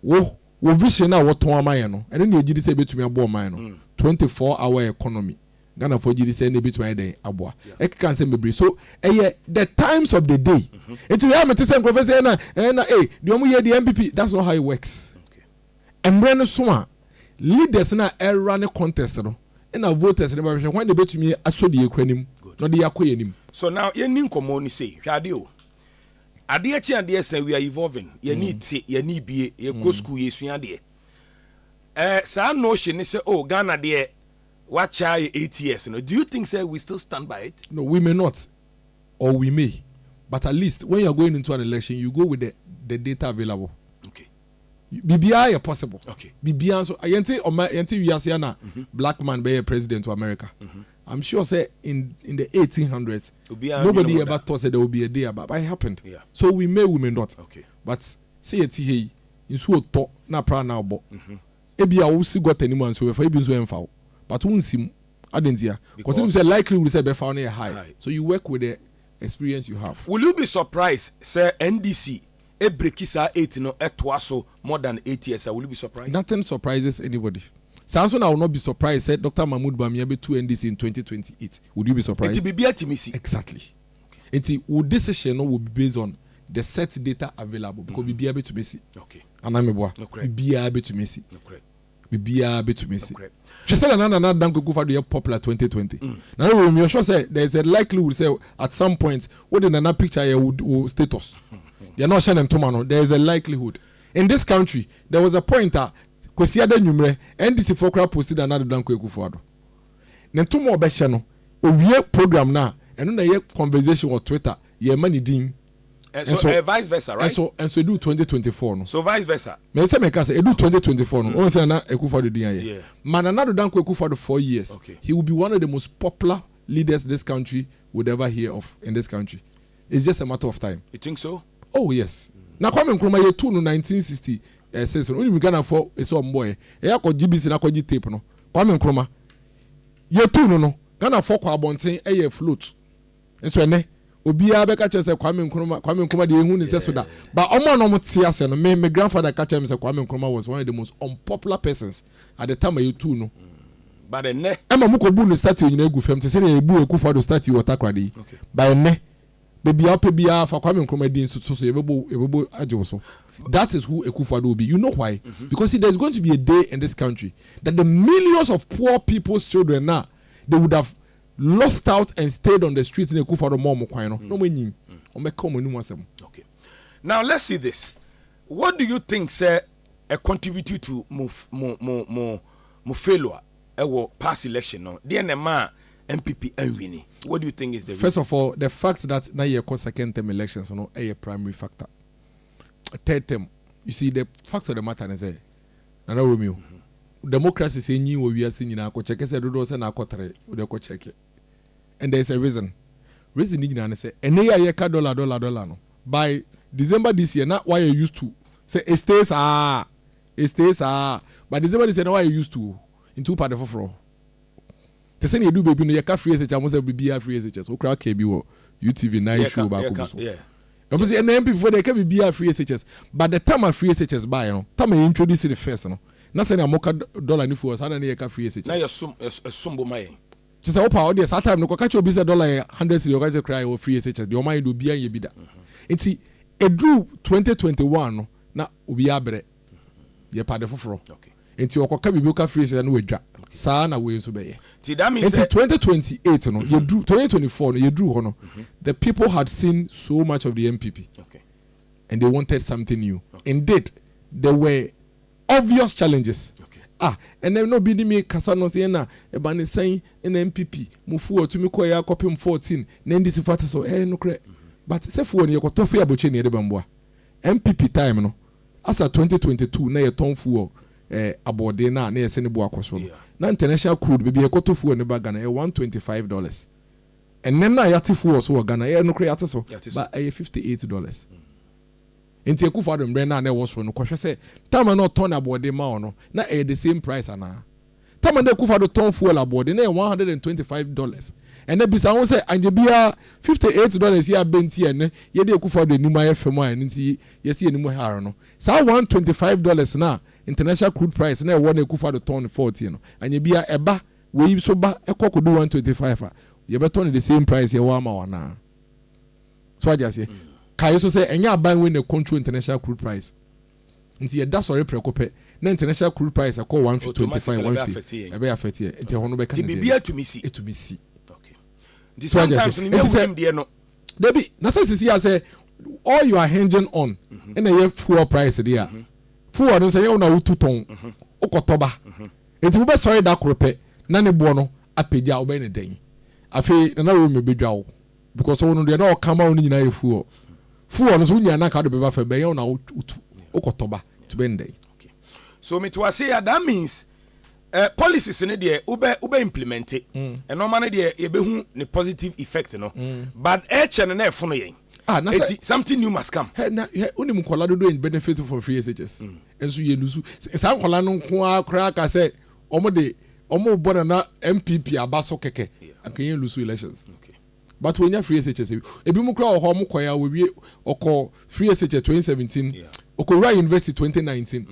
Wo, wo vision no a wɔtɔn ama yɛn no, ɛno na yɛgye di sɛ ɛbɛtumi aboa ɔman no. Twenty four hour economy, Ghanafoɔ gye di sɛ ɛno na ɛbɛtumi ayɛ dɛn aboa. Ɛkeka nsɛm bebree. So, ɛyɛ the times of the day. Nti ɛyɛ a mete sɛ nkurɔfoɔ sɛ ɛna, ɛna, ei, deɛ wɔyɛ deɛ NPP, that's not how it works. Mmerɛ no so a, leaders no a ɛra ne contest no, ɛna voters no bɛhwɛ hwan na ɛbɛtumi asɔ deɛ yɛkura no mu na ɔde yɛakɔ yɛn anim. So now yɛnni nkɔmmɔ no
sei, hwɛ adeɛ o. Adeɛ kye adeɛ sa we are evolving yɛne te yɛne bie yɛkɔ school yɛsua adeɛ eh, saa notion ne sɛ oh Ghana deɛ wakyɛ ayɛ eight years no do you think sɛ we still stand by it? No we may not
or we may but at least when you are going into an election you go with the the data available okay biribiara yɛ possible okay biribiara nso yɛnte ɔma yɛnte wiase a na black man bɛyɛ president wɔ America I'm sure sɛ in in the eighteen hundreds Obiara ndwene nobody ho da. ever thought sɛ there will be a day aba but it happened Yeah. so we may we may not Okay. but sɛ yɛte ha yi nsuo tɔ na aprannaa ɔbɔ ebia wo si gutter no mu a nsuo bɛfa wo ebi nso ɛmfa wo but wo nsi mu adɛn ntia cause Because- wonim sɛ likelihood sɛ ɛbɛfa wo no yɛ high High. so you work with the experience you have. Will you be surprised
sɛ NDC ebreki saa eight no toa so more than eight years a, will you be surprised? Nothing surprises
anybody. Saa nso na I will not be surprised sɛ Doctor Mahmood Bawumia bɛtu NDC in twenty twenty eight. Would you be surprised? Nti
biribiara
tumi si. Exactly. Nti wo decision no will
be
based on the set data available because biribiara bɛtumi asi. Okay. Anaa meboa?
Nokorɛ.
Biribiara bɛtumi asi. Nokorɛ. biribiara betumi asi. Hwɛ sɛnea na Nana Dankwaku fa do yɛ popular twenty twenty. Nana Were you sure sɛ there is a likelihood sɛ at some point wode Nana picture ayɛ wo wo status? Deɛ na ɔhyɛ ne ntoma no, there is a likelihood. In this country, there was a point a Kwasiada anwummerɛ, NDC foɔ koraa posti Nana Addo Dankwa Akufo Addo ne ntoma a ɔbɛhyɛ no, owie program no a, ɛno na ɛyɛ conversation wɔ Twitter, yɛmma ne din. And so, uh,
vice versa, right? And so, and so, edu 2024
no. So vice versa. Me say
me kasa, edu
2024 no. Mm. Onse na Akufo-Addo din aye. Yeah. Ma Nana Addo Dankwa Akufo-Addo four years. Okay. He will be one of the
most
popular leaders this country would ever hear of in this country. It's just a matter of time. You think so? Oh
yes. Mm.
Na Kwame Nkrumah ye two no 1960 eh says no. Only Ghana for ese ombo eh. E akọ GBC na akọ tape no. Kwame Nkrumah ye two no no. Ghana for kwa abonten eh float. Nso ɛnɛ, obiara bɛka kyerɛ sɛ Kwame Nkrumah, Kwame Nkrumah deɛ ehu ne sɛ so da. But ɔmo a na ɔmo te aseɛ no, me, me grandfather ka kyerɛ me sɛ Kwame Nkrumah was one of the most unpopular persons at the time a yɛtuu no. But ɛnɛ.
Ɛma ɔmo kɔ bu ne statue
nyinaa gu fam te sɛdeɛ yɛbu Akufo Addo statue wɔ Takoradi yi. Okay. But ɛnɛ, baabi a wopɛ biara fa Kwame Nkrumah din so, so so yɛbɛbɔ, yɛbɛbɔ agye wo so. That is who Akufo Addo will be. You know why? Mm -hmm. Because see, there's going to be a day in this country that the millions of poor people's children na they would have lost out and stayed on the street na Akufo Addo ma wɔn kwan no, na wɔanyin. Wɔbɛka wɔn anim asɛm.
Okay. Now let's see this. What do you think sɛ ɛ contribute to mo mo mo mo mo failure ɛwɔ past election no? Deɛ na ɛmaa NPP anwini. What do you think is the reason? First of all, the fact
that na yɛkɔ second term elections no ɛyɛ primary factor. Third term, you see the fact of the matter ne sɛ Nana Romeo, democracies enyin wɔ wiase nyina, kɔ kyɛkɛ sɛ dodoɔ sɛ na akɔ tere, wo deɛ kɔ kyɛkɛ. And there is a reason. Reason ne nyina ne sɛ, ɛnɛ yi a yɛ ka dollar dollar dollar no, by December this year na w'ayɛ used to sɛ e stay saa, e stay saa, by December this year na w'ayɛ used to o, nti wo pa ade foforɔ. Te sɛ nea edu baabi no yɛka free SHS ho sɛ biribiara free SHS. Wo koraa kaa bi wɔ UTV nine show baako bi so. Ɛwɔ sɛ ɛnna NPP foɔ deɛ ɛka biribiara free SHS but the time a free SHS baeɛ no, time a yɛ introduce no first no, na sɛnea moka dollar ne fuel saa na ne yɛka free SHS. Na yɛsom bo
ma yɛn. Kyerɛ sɛ wo paa wo deɛ
saa time no kɔka kyerɛ obi sɛ dollar yɛ hundred cedi ɔka kyerɛ koraa yɛwɔ free SHS deɛ ɔma yɛn deɛ obiara nyɛ bi da. Nti ɛduru twenty twenty one no na obiara brɛ. yɛpɛ ade foforɔ nti ɔkɔka
biribi ɔka
firi sɛ na wadwa saa na wei nso bɛyɛ nti 2028 no yɛduru 2024 no yɛduru hɔ no mhm. the people had seen so much of the MPP
and they wanted
something new indeed there were obvious challenges ah ɛnɛ na obi ne mi kasa no sɛ ɛna ɛba ne sɛn ɛna MPP mufu wɔ tumi kɔ yɛ akɔpem 14 na ndc fo ate so ɛyɛ nokorɛ mhm. but sɛ fo wɔ ne yɛkɔtɔ fo yɛ abɔkyɛ ne yɛde bɛmboa NPP time no, asa twenty twenty two na yɛtɔn fuel eh, aboɔden no a na yɛsɛ ne bo akɔ so no, na international crude baabi a yɛkɔtɔ fuel no ba Ghana ɛyɛ one twenty five dollars. Ɛnnɛ no a yɛate fuel so wɔ Ghana, ɛyɛ nokorɛ yɛate so, ba ɛyɛ fifty eight dollars. Nti Akufo-Addo mmerɛ no a na ɛwɔ soro no, kɔhwɛ sɛ time a na ɔtɔn aboɔden ma wo no, na ɛyɛ the same price anaa? Tama ne Akufo Addo tɔn fuel aboɔden, na ɛyɛ one hundred and twenty five dollars. Ɛnnɛ, bisa wo ho sɛ, Anyɛ biara, fifty eight dollars yi abɛ nti a ɛnnɛ yɛde Akufo Addo anim ayɛ fɛ mu a ɛno nti yɛasi yɛn anim ha ara no? Saa one hundred and twenty five dollars no a international crude price no ɛwɔ na Akufo Addo tɔn no forty no, anyɛ biara, ɛba, wei nso ba, ɛkɔ kɔdu one hundred and twenty five a, yɛbɛtɔ no the same price yɛwɔ ama wo anaa? So wate aseɛ? Kae nso sɛ, ɛnyɛ aban wei na ɛcontrol international crude price. Nti yɛ da sɔre prɛko pɛ na international crude price akɔ one fifty twenty five one fifty ɛbɛyɛ affect yɛn nti ɛhɔ no bɛka ne deɛ biribi atumi si atumi
si
nti
sometimes ne nyɛ wunim deɛ no dabi na sɛ
sisi yɛ sɛ all you are hinging on mhm. ɛna ɛyɛ fuel price deɛ a mhm. fuel no sɛ yɛ wɔn a wotu tɔn mhm. wokɔtɔ ba nti wobɛ sɔre da koro pɛ na ne boɔ no apagya wobɛyɛ ne dɛn afei nana wei mebɛdwa wo Because ɔwo no deɛ na ɔka ma wo no nyinaa yɛ fuɔ fuɔ no so wonya na anka wode bɛba fam bɛyɛ wo na wotu wokɔtɔ ba nti bɛn dɛn. Okay so
mete wase ya that means eh, policies no deɛ wobɛ wobɛ implemente mm. ɛnɔma no deɛ yɛbɛhu ne positive effect no mm. but ɛkyɛ no na ɛfono yɛn Ah, na sɛ something new must come. Hɛ na hɛ onim nkɔla
dodo in benefit from free SHS. Mm. Nso yɛ lusu saa nkɔla no nko ara koraa ka sɛ Ɔmo de ɔmo bɔ nana NPP aba so kɛkɛ anka yɛn lusu elections but wɔnya free SHS ebi mu kora wɔ hɔ ɔmo kɔɛ a wɔwie ɔkɔ free SHS 2017 ɔkɔwura university 2019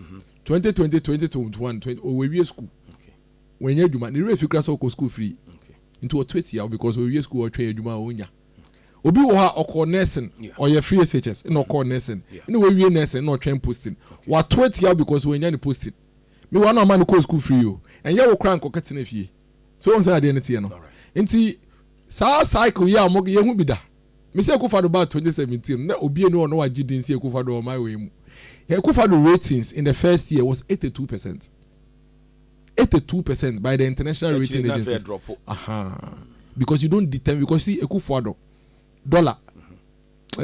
2020 2021 ɔwɔwie school wɔnya adwuma ne werɛ fi kora sɛ ɔkɔ school free nti ɔto atia wo because ɔwie school ɔtwɛn adwuma a ɔnya obi wɔ hɔ a ɔkɔ nursing ɔyɛ free SHS na ɔkɔ nursing na wɔwie nursing na ɔtwɛn posting wato atia wo because wɔnya ne posting Me wa no ama no kɔɔ sukuu free o, ɛnyɛ wo koraa a nka ɔkɛtena fie. So wohu sɛdeɛ adeɛ no teɛ no? Nti saa cycle yi a wɔn, yɛnhu bi da. Me sɛ Akufo-Addo baa 2017 no, na obia nni hɔ a na wagye din sɛ Akufo-Addo wɔ ɔman wei mu. Yɛn Akufo-Addo ratings in the first year was 82 percent. 82 percent by the international rating Akyire na afei agencies. ɛdrɔpo. Aha. Because you don't determine, because you see Akufo-Addo, dollar,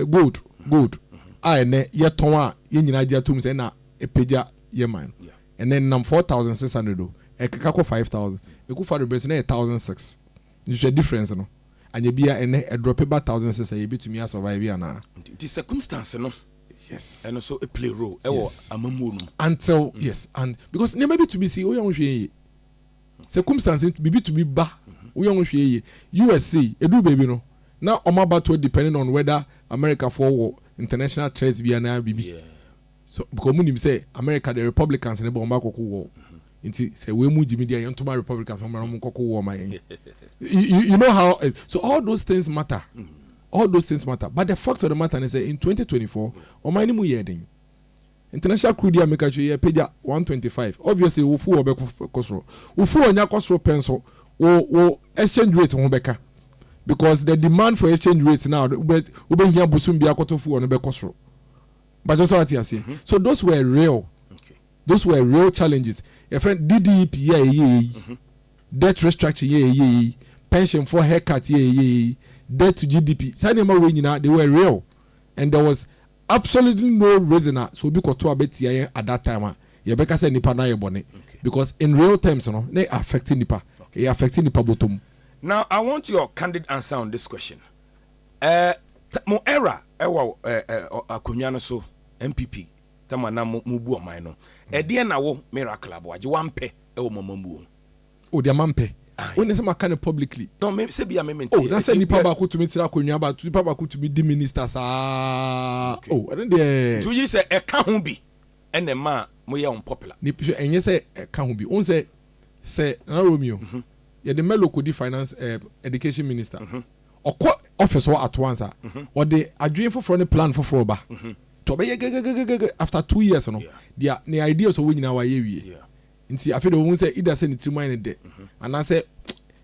Gold, gold a ɛnnɛ yɛtɔn a yɛn nyinaa gye atom sɛ ɛna ɛpagya yɛn man no, ɛnnɛ ɛnam four thousand six hundred o, ɛkeka kɔ five thousand. Ekuffo Addo bere so na ɛyɛ thousand six. Nhwehwɛ difference no. Anyɛ biara ɛnnɛ ɛdrɔpe ba thousand six a, yebetumi a survive anaa? Nti circumstance
no, ɛno nso
play
role wɔ amammuo no mu. Until, yes, and
because nneɛma bi tumi si, woyɛ a wonhwɛ yie. circumstance nti biribi tumi ba woyɛ ho hwee yie US sei ɛduru baabi no na wɔn abatoɔ depending on whether America foɔ wɔ international threat bi anaa biribi so because wɔn nim sɛ America deɛ Republicans ne bɔ wɔn akɔko wɔ nti sɛ wɔn mu gyimi deɛ yɛn ntoma Republicans wɔn mara wɔn nkɔko wɔ ma yɛn you, you know how eh, so all those things matter all those things matter but the fact of the matter ne sɛ in 2024 wɔn ani mu yɛ den. International crew deɛ meka kyerɛ yɛ pagya one twenty five obviously wo fuel bɛkɔ kɔ soro wo fuel nya kɔ soro pɛ nso wo wo exchange rate ho bɛka because the demand for exchange rate na wobɛ wobɛhia bosom bi akɔtɔ fuel no bɛkɔ soro mpakyɛ sɛ ate aseɛ so those were real those were real challenges yɛfɛ DDEP yɛ a ɛyɛ yɛ yi debt restructuring yɛ a ɛyɛ yɛ yi pension for haircut yɛ a ɛyɛ yɛ yi debt to GDP saa nneɛma wei nyinaa they were real and there was Absolutely no reason a sɛ obi kɔto aba tia yɛn at that time a yɛbɛka sɛ nipa no ayɛ bɔne because in real terms no na yɛ affect nnipa, yɛ affect nnipa bɔtɔm. Now I
want your candid answer on this question eh mo era ɛwɔ eh akonwa no so NPP tɛm a na mo bu ɔman no ɛdeɛn na wo Miracle Aboagye wampɛ ɛwɔ mo amammuo ho? Odi ama me
pɛ. Wo ne sɛ maka no publicly. No me sɛ bia me mente.
Oh na sɛ nipa baako tumi
tra akonnwa ba nipa baako tumi di minister saa oh ɛno deɛ. Nti woyi sɛ ɛka ho
bi ɛna ɛma moyɛ unpopular. Nip hwɛ ɛnyɛ sɛ
ɛka ho bi wohu sɛ sɛ Nana Romeo yɛde Melo kɔdi finance eh education minister ɔkɔ office hɔ at once a ɔde adwene foforɔ ne plan foforɔ ba nti ɔbɛyɛ gɛgɛgɛgɛgɛ after two years no deɛ ne ideas ɔwɔ nyinaa wayɛ awie Nti afei deɛ wɔn sɛ either sɛ ne tirim ayɛ ne dɛ anaasɛ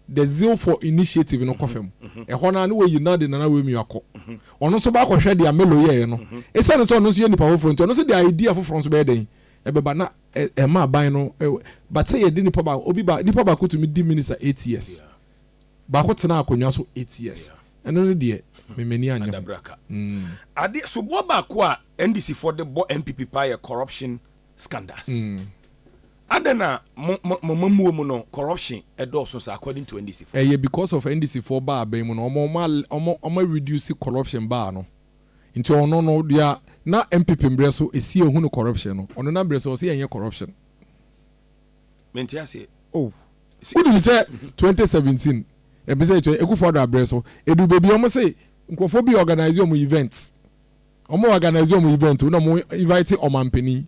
the zeal for initiative no kɔ fam ɛhɔ no a ne wɔyi na de nana Romeo akɔ ɔno nso ba akɔhwɛ deɛ Melo yɛeɛ no ɛsiane sɛ ɔno nso yɛ nipa foforɔ nti ɔno nso de idea foforɔ nso bɛyɛ dɛn ɛbɛba na ɛma aban no but sɛ yɛde nipa baako obi ba nipa baako tumi di minister eight years baako tena akonnwa so eight years ɛno no deɛ memani anyɛ adabraka mm.
ade soboɔ baako a ndc foɔ de bɔ npp paa yɛ corruption scandals adɛn na mo mo mo mamuo mu no corruption ɛdɔɔso saa according to NDC foɔ. Ɛyɛ because of NDC foɔ
baa abɛn mu no ɔmo ɔmo ɔmo ɔmo a reduce corruption baa no nti ɔno no dea na NPP mbrɛ so esi ehu no corruption no ɔno na mbrɛ so ɔse ɛnyɛ corruption.
Mente aseɛ. Oh wonim
sɛ twenty seventeen ɛbisɛ ɛtwa Akufo-Addo abrɛ so ɛduru baabi ɔmo se nkorɔfoɔ bi organise ɔmo events. Ɔmo organise ɔmo event na ɔmo invite ɔmanpanin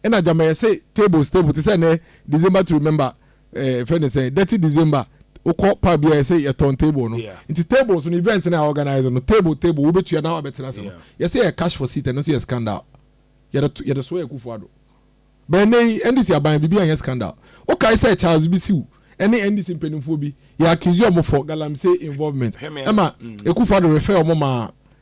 ɛna gyama yɛse tables table te sɛ nɛ December to remember ɛɛ eh, fɛ ne sɛ dirty December wokɔ pub bi a yɛse yɛtɔn table no yeah. nti tables no event na organise no table table wobɛtua na wabɛtena ase no yeah. yɛse yɛ cash for seat ɛno nso yɛ scandal yɛde yɛde soɔ yɛ kufu ado bɛn nɛ yi NDC aban biribi anyɛ scandal wokae sɛ Charles bi siw ɛne NDC mpanimfoɔ bi yɛ accuse ɔmo for galamsey involvement ɛma mm. ekufu ado refer ɔmo maa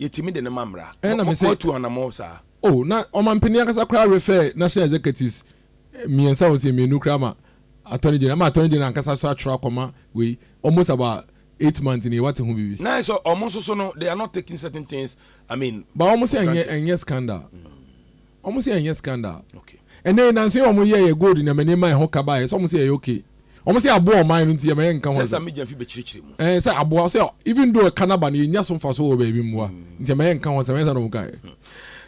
Yɛtumi de no ma mmara. Ɛna me sɛ. Moatu anamɔ
saa.
Oh, na ɔmampanin
ankasa koraa refɛɛ National Executives eh, mmiɛnsa wɔn sɛ mmienu koraa ma Attorney General, ama Attorney General ankasa so atwerɛ akɔma wei, almost about eight months ni wate ho biribi. Na ɛsɛ wɔn nso so no,
they are not taking certain things, I mean. Ba wɔn sɛ ɛnyɛ ɛnyɛ
scandal. Mm. Wɔn sɛ ɛnyɛ scandal. Ɛnɛ nanso yɛ wɔn yɛ yɛ gold nneɛma nneɛma ɛho kaba yɛ sɛ wɔn sɛ ɛyɛ okay. Wɔn sɛ aboa ɔman no nti yɛ ma yɛ nka ho. Sɛ sɛ media fi bɛkyerɛkyerɛ mu.
Ɛɛ sɛ aboa sɛ
even though ɛka naba no yɛ nya so nfa so wɔ baabi mmoa hmm. nti yɛ ma yɛ nka ho sɛ wɔn sɛ na wɔn ka yɛ. Hmm.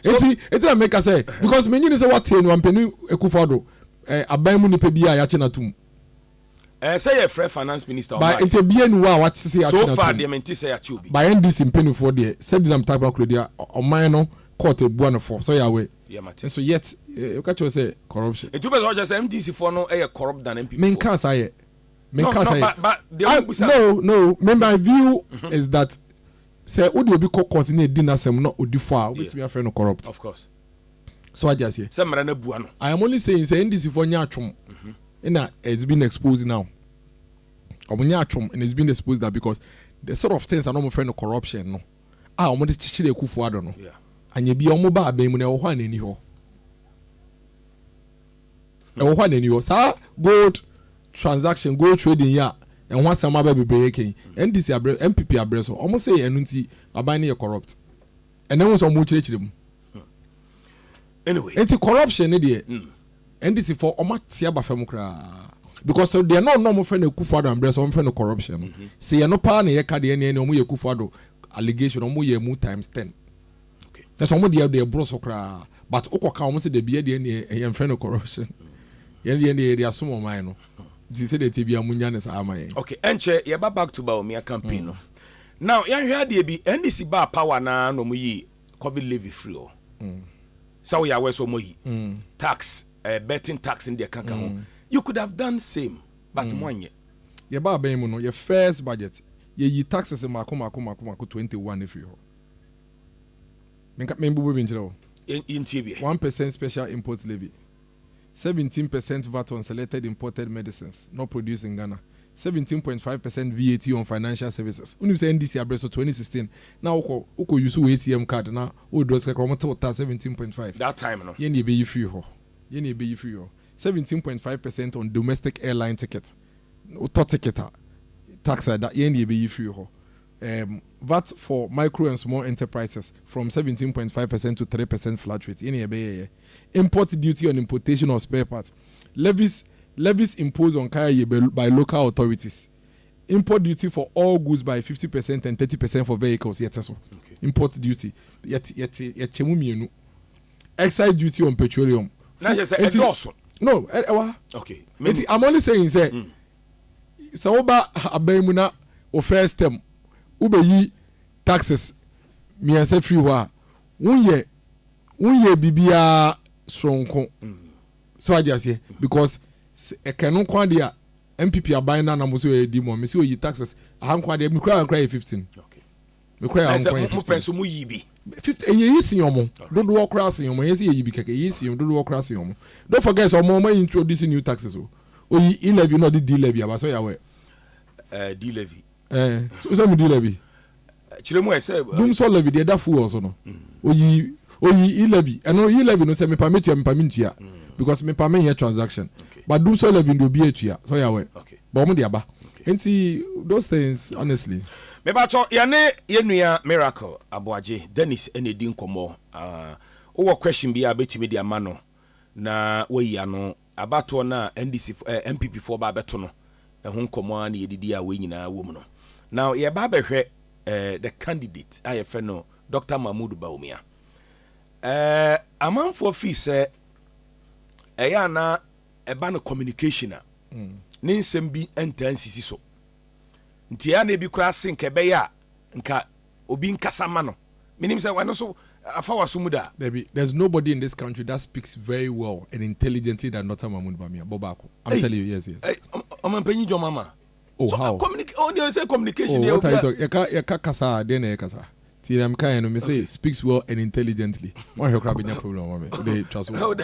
Eti eti na meka sɛ because menyini sɛ wate nwampani ekufado ɛɛ aban mu nipa bi a yɛakye na tum. Ɛɛ sɛ
yɛ frɛ finance minister ɔmma yɛ. By nti bia ni hɔ a
wate sɛ yɛakye no atom. So far deɛ mente sɛ yɛakye obi.
By NDC mpaninfoɔ
deɛ sɛ Dinam Tarkwa kura deɛ ɔman no court abua no fɔ sɛ ɔyɛ aware. Deɛ mate. Nso yet woka kyerɛ sɛ corruption. Nti wopɛ sɛ ɔkyerɛ sɛ MDC
foɔ no yɛ corrupt than NPP foɔ. Me nkaa saa yɛ.
Me nkaa saa yɛ.
No no but but deɛ wo busa. No no
me my view is that sɛ wode obi kɔ court na ɛdi n'asɛm na ɔdi fɔ a wobɛtumi afrɛ no corrupt. Of course.
so wagye aseɛ
sɛ mmara no abu ano I am only saying sɛ NDC foɔ nyɛ atwom ɛna mhm. it's been exposed now wɔn nyɛ atwom and it's been exposed now because the sort of things a na wɔn fɛ no corruption no a wɔn de kyekyere akufo ado no anyɛ bi a wɔn ba abɛn mu na ɛwɔ hɔ a n'ani hɔ ɛwɔ hɔ a n'ani hɔ saa gold transaction gold trading yɛ a ɛho asɛm aba bebree kɛn ndc abrɛ npp abrɛ so wɔn sɛ ɛno nti aban no yɛ corrupt. ɛnɛ ho sɛ wɔn kyerɛkyerɛ mu
nti corruption
ne deɛ hmm. ndc fɔ wɔn ate aba fam koraa because deɛ no ɔnɔ wɔn fɛ no ekufo ado ambrɛ sɛ wɔn fɛ no corruption no mhm. sɛ yɛn no paa na yɛ ka deɛ ɛnɛ ɛnɛ wɔn yɛ ekufo ado allegation wɔn yɛ mu times ten ɛsɛ
wɔn deɛ deɛ
ɛboro so koraa but okɔ ka wɔn sɛ deɛ bi yɛ deɛ ɛnɛ ɛyɛ nfɛ no corruption yɛn deɛ ɛnɛ yɛ de asom wɔn ayɛ no ti sɛ deɛ ti bi a mo
nya ne saa ama yɛn. okay ɛnkyɛ yɛ ba back to Bawumia campaign no. Mm. Now yɛnhwɛ adeɛ bi, NDC baa power na na ɔmo yi covid levy firi hɔ. Sɛ woyɛ aware sɛ ɔmo ayi tax, eh, betting tax ne deɛ ɛka ka ho. You could have done same but mo anyɛ. Yɛbaa bɛn
mu no, yɛ first budget, yɛyi taxes mmaako mmaako mmaako mmaako twenty one firi hɔ. Menka, menbobɔ bi nkyerɛ wo. Yɛntie bi ɛ.
One percent special
import levy. seventeen per cent vat on selected imported medicines not produced in Ghana, seventeen point five per cent VAT on financial services, wonim sɛ NDC abere so twenty sixteen na wokɔ wokɔ use wo ATM card na wo withdraw sika koraa wɔn te wo taa seventeen point five, That time no. yɛn
na yɛbɛyi firi hɔ,
yɛn na yɛbɛyi firi hɔ, seventeen point five per cent on domestic airline ticket, wotɔ ticket a tax a ɛda yɛn na yɛbɛyi firi hɔ, um, vat for micro and small enterprises from seventeen point five per cent to three per cent flat rate yɛn na yɛbɛyɛɛyɛ. Import duty on importation of spare parts, levies, levies imposed on kaya ye by by local authorities, import duty for all goods by fifty percent and thirty percent for vehicles, yɛte so, import duty, yɛte, yɛte, yɛkyɛ mu mmienu, excise duty on petroleum, Na kyerɛ sɛ, Enti- ɛdɔɔso. no, ɛ- ɛwɔ ha. Okay.
Me- Nti I'm only
saying sɛ sɛ woba ha- aban mu na wo first term wobɛyi taxes mmiɛnsa firi hɔ a wonyɛ wonyɛ biribiara soronko sɛ wagye aseɛ because ɛkɛ no nko adeɛ a npp aban no anam so ɛdi mu a mesɛ ɔyi taxes aha nko adeɛ mekura nkura yɛ 15
mekura
yɛ nko yɛ 15
fifty ɛyɛ yi si
wɔn dodoɔ koraa si wɔn ɛyɛ sɛ yɛyi bi kɛkɛ ɛyɛ si wɔn dodoɔ koraa si wɔn don't forget sɛ wɔn wɔn introduce new taxes o oyi e levy na ɔde d levy aba so yɛ awɛ. d
levy Eh, so sɛ mudi
lɛbi. Kyerɛ mu ɛ
sɛ. Dum sɔ lɛbi deɛ da fuel
so no. Mm. Oyi oyi i lɛbi ɛno i lɛbi no sɛ mepa metua mepa mentua mm. because mepa menyɛ transaction. Okay. But dum sɔ lɛbi deɛ obi atua sɔ yɛ awɛ. Okay. But wɔn de aba.
Okay.
Nti those things honestly. Mebatɔ
yɛne yɛn nua Miracle Aboagye Dennis ɛna edi nkɔmɔ. Uh, wowɔ question bi a betumi de ama no na wayi ano Abatoɔ no a NDCfoɔ ɛɛ NPPfoɔ ba abɛto no, ɛho nkɔmmɔ ara na yɛdidi a wei nyinaa wɔ mu no. Now yɛreba abɛhwɛ ɛɛ the candidate a yɛfrɛ no Doctor Mahmood Bawumia. Ɛɛ amanfoɔ feel sɛ ɛyɛ a na ɛba no communication a, ne nsɛm bi ntaa nsisi so. Nti ɛyɛ a na ebi koraa se nka ɛbɛyɛ a nka obi nkasa mma no. Menim sɛ ɛno nso afa w'aso mu da. Dabi, there's nobody in
this country that speaks very well and intelligently than Doctor Mahmoud Bamia, bɔ baako. I'm Ei, telling you, yes, yes. ei, ɔm- ɔmampanyin John
Mahama. Oh, So, how? communica-
ɔno deɛ ɔsɛ communication
Oh, deɛ what are you obia- talking? Yɛka
yɛka kasa a, deɛ na yɛ kasa. Ti na mekaeɛ no, mese Okay. speaks well and intelligently. Woanhwɛ koraa bɛnya problem ama me. Wode twa so. How da-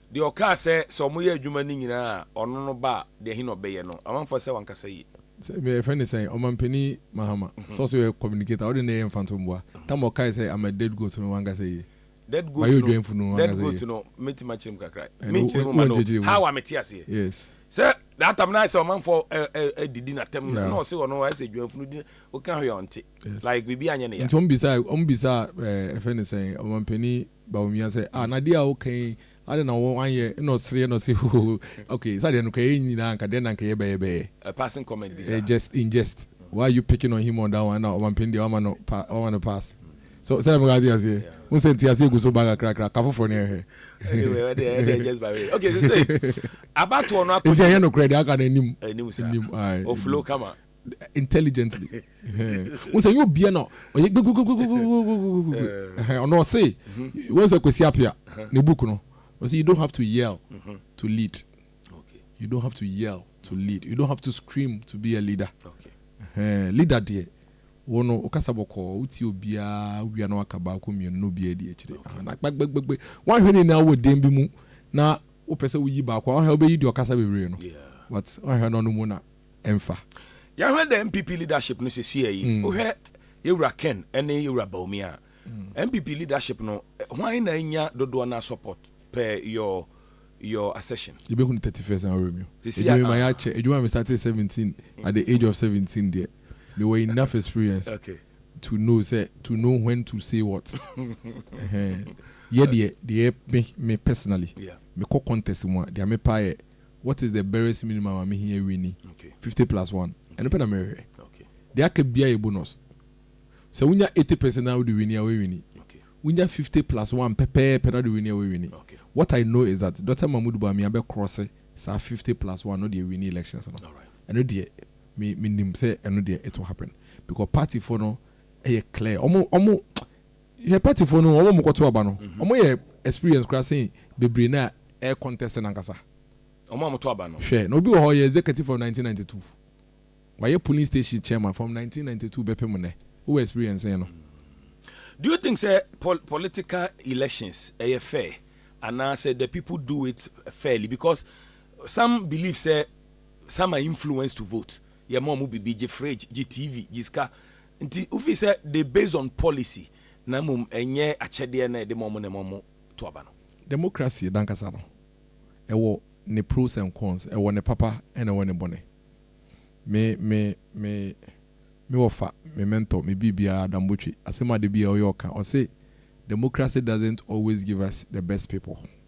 Deɛ ɔkaa sɛ, sɛ wɔyɛ adwuma no nyinaa a, ɔno no ba a, deɛ he na ɔbɛyɛ no? Amanfoɔ sɛ wankasa yie. Sɛ bɛ fɛ ne sɛn?
Ɔmanpanin Mahama, sɛ ɔsɛ ɔyɛ communicator a, ɔde ne yɛ mfantomboa. Tam a ɔkae sɛ I'm a dead goat no, wankasa yie. Dead goat no,
dead goat no, mɛtumi akyerɛ mu kakra. Menkyerɛ mu ma no, how a mete aseɛ. Yes. Sɛ
that time
no ayɛ sɛ ɔmanfoɔ ɛ ɛ ɛdidi n'atɛm na na ɔse ɔno ayɛ sɛ dwamfunu di woka hwee a ɔnte. Like biribi anyɛ ne ya. Nti wɔn bisaa, wɔn
bisaa ɛɛ ɛfɛ ne sɛn? Ɔmanpanin Bawumia sɛ, ah na deɛ a woka yi adɛn na ɔwɔ anyɛ ɛna ɔsereɛ na ɔse hohoho ok sɛ adeɛ no kora yɛn nyinaa anka dɛn na anka yɛbɛyɛ bɛyɛ.
A passing comment bi saa. Just in jest
why are you picking on him on that one ɛna ɔmampanin deɛ wama no pa wama no pass so sɛdeɛ meka ate aseɛ wohu sɛ nteaseɛ gu so ba kakrakra ka foforɔ no yɛnhwɛ Anyway ɔdeɛ ɛdeɛ
just by way ok sesei abatoɔ no akɔ nti ɛnyɛ nokorɛ deɛ aka no
anim anim saa ae ɔflow kama
intelligently
wọn sɛ yóò bia na ɔyɛ gbogbogbo ɔno ɔse wọn sɛ Kwesi Appiah ne book no ɔse you don't have to yell to lead you don't
have to yell
to lead you don't have to scream to be a leader
leader deɛ
wo no wokasa bɔkɔɔ wotie obiara wia na waka baako mmienu na obiara di akyire na gbagbagbagbɛ woahwɛ ne nyinaa wɔ dan bi mu na wopɛ sɛ woyi baako a wohɛ wobɛyi deɛ ɔkasa bebree no but woahwɛ
no ɔno
mu na ɛmfa. Yɛahwɛ dɛ
NPP leadership no sesei yi, wohwɛ Yewura Ken ne Yewura Bawumia a, NPP leadership no, hwan na anya dodoɔ no ara support per your your assertion? Yɛbɛhunu thirty
first na ɔremio. Sesei Ɛdeɛ a, mema ah. yɛakyɛ, adwuma a me startee seventeen, at the age of seventeen deɛ, mewɔ enough experience Okay. to know sɛ, to know when to say what. Ɛhɛn. Yɛ deɛ, deɛ ɛyɛ me, me personally, Yeah. mekɔ contest
mu
a, deɛ mepɛ ayɛ, What is the barest minimum a mehia wi ni? Fifty plus one, ɛno pɛ na merehwɛ. Deɛ aka
biara yɛ
bonus. Sɛ wonya eighty percent na wode wini a, woawini. Wonya fifty plus one pɛpɛɛpɛ na wode wini a, woawini. What I know is
that
Dɔkta Mahmood Bawumia bɛkrɔse saa fifty plus one no de awini elections no. Ɛno deɛ, me, menim sɛ ɛno deɛ it will happen. Because partyfoɔ no yɛ clear. Wɔn, wɔn Hwɛ party foɔ no wɔn a wɔn kɔto aba no wɔn yɛ experience koraa sen bebree no a ɛyɛ contest no ankasa. Wɔn a wɔn to aba
no. Hwɛ na obi wɔ hɔ ɔyɛ executive
from nineteen ninety two wayɛ polling station chairman from nineteen ninety two bɛpem nnɛ wo wɔ experience sɛn no.
Do you think sɛ political elections ɛyɛ fair anaa sɛ the people do it fairly because some believe sɛ some are influenced to vote yɛ ma wɔn bibi gye fridge gye TV gye sika Nti wofii sɛ they based on policy na mmom ɛnyɛ akyɛdeɛ na ɛdema ɔmo na ɛma ɔmo to aba no. Democracy nankasa
no ɛwɔ ne pros and cons, ɛwɔ ne papa ɛna ɛwɔ ne bɔne. Me me me me wɔfa, me mentor, me biribiara Adam Botwe, asɛm a da biara ɔyɛ ɔka, ɔse, Democracy doesn't always give us the best people.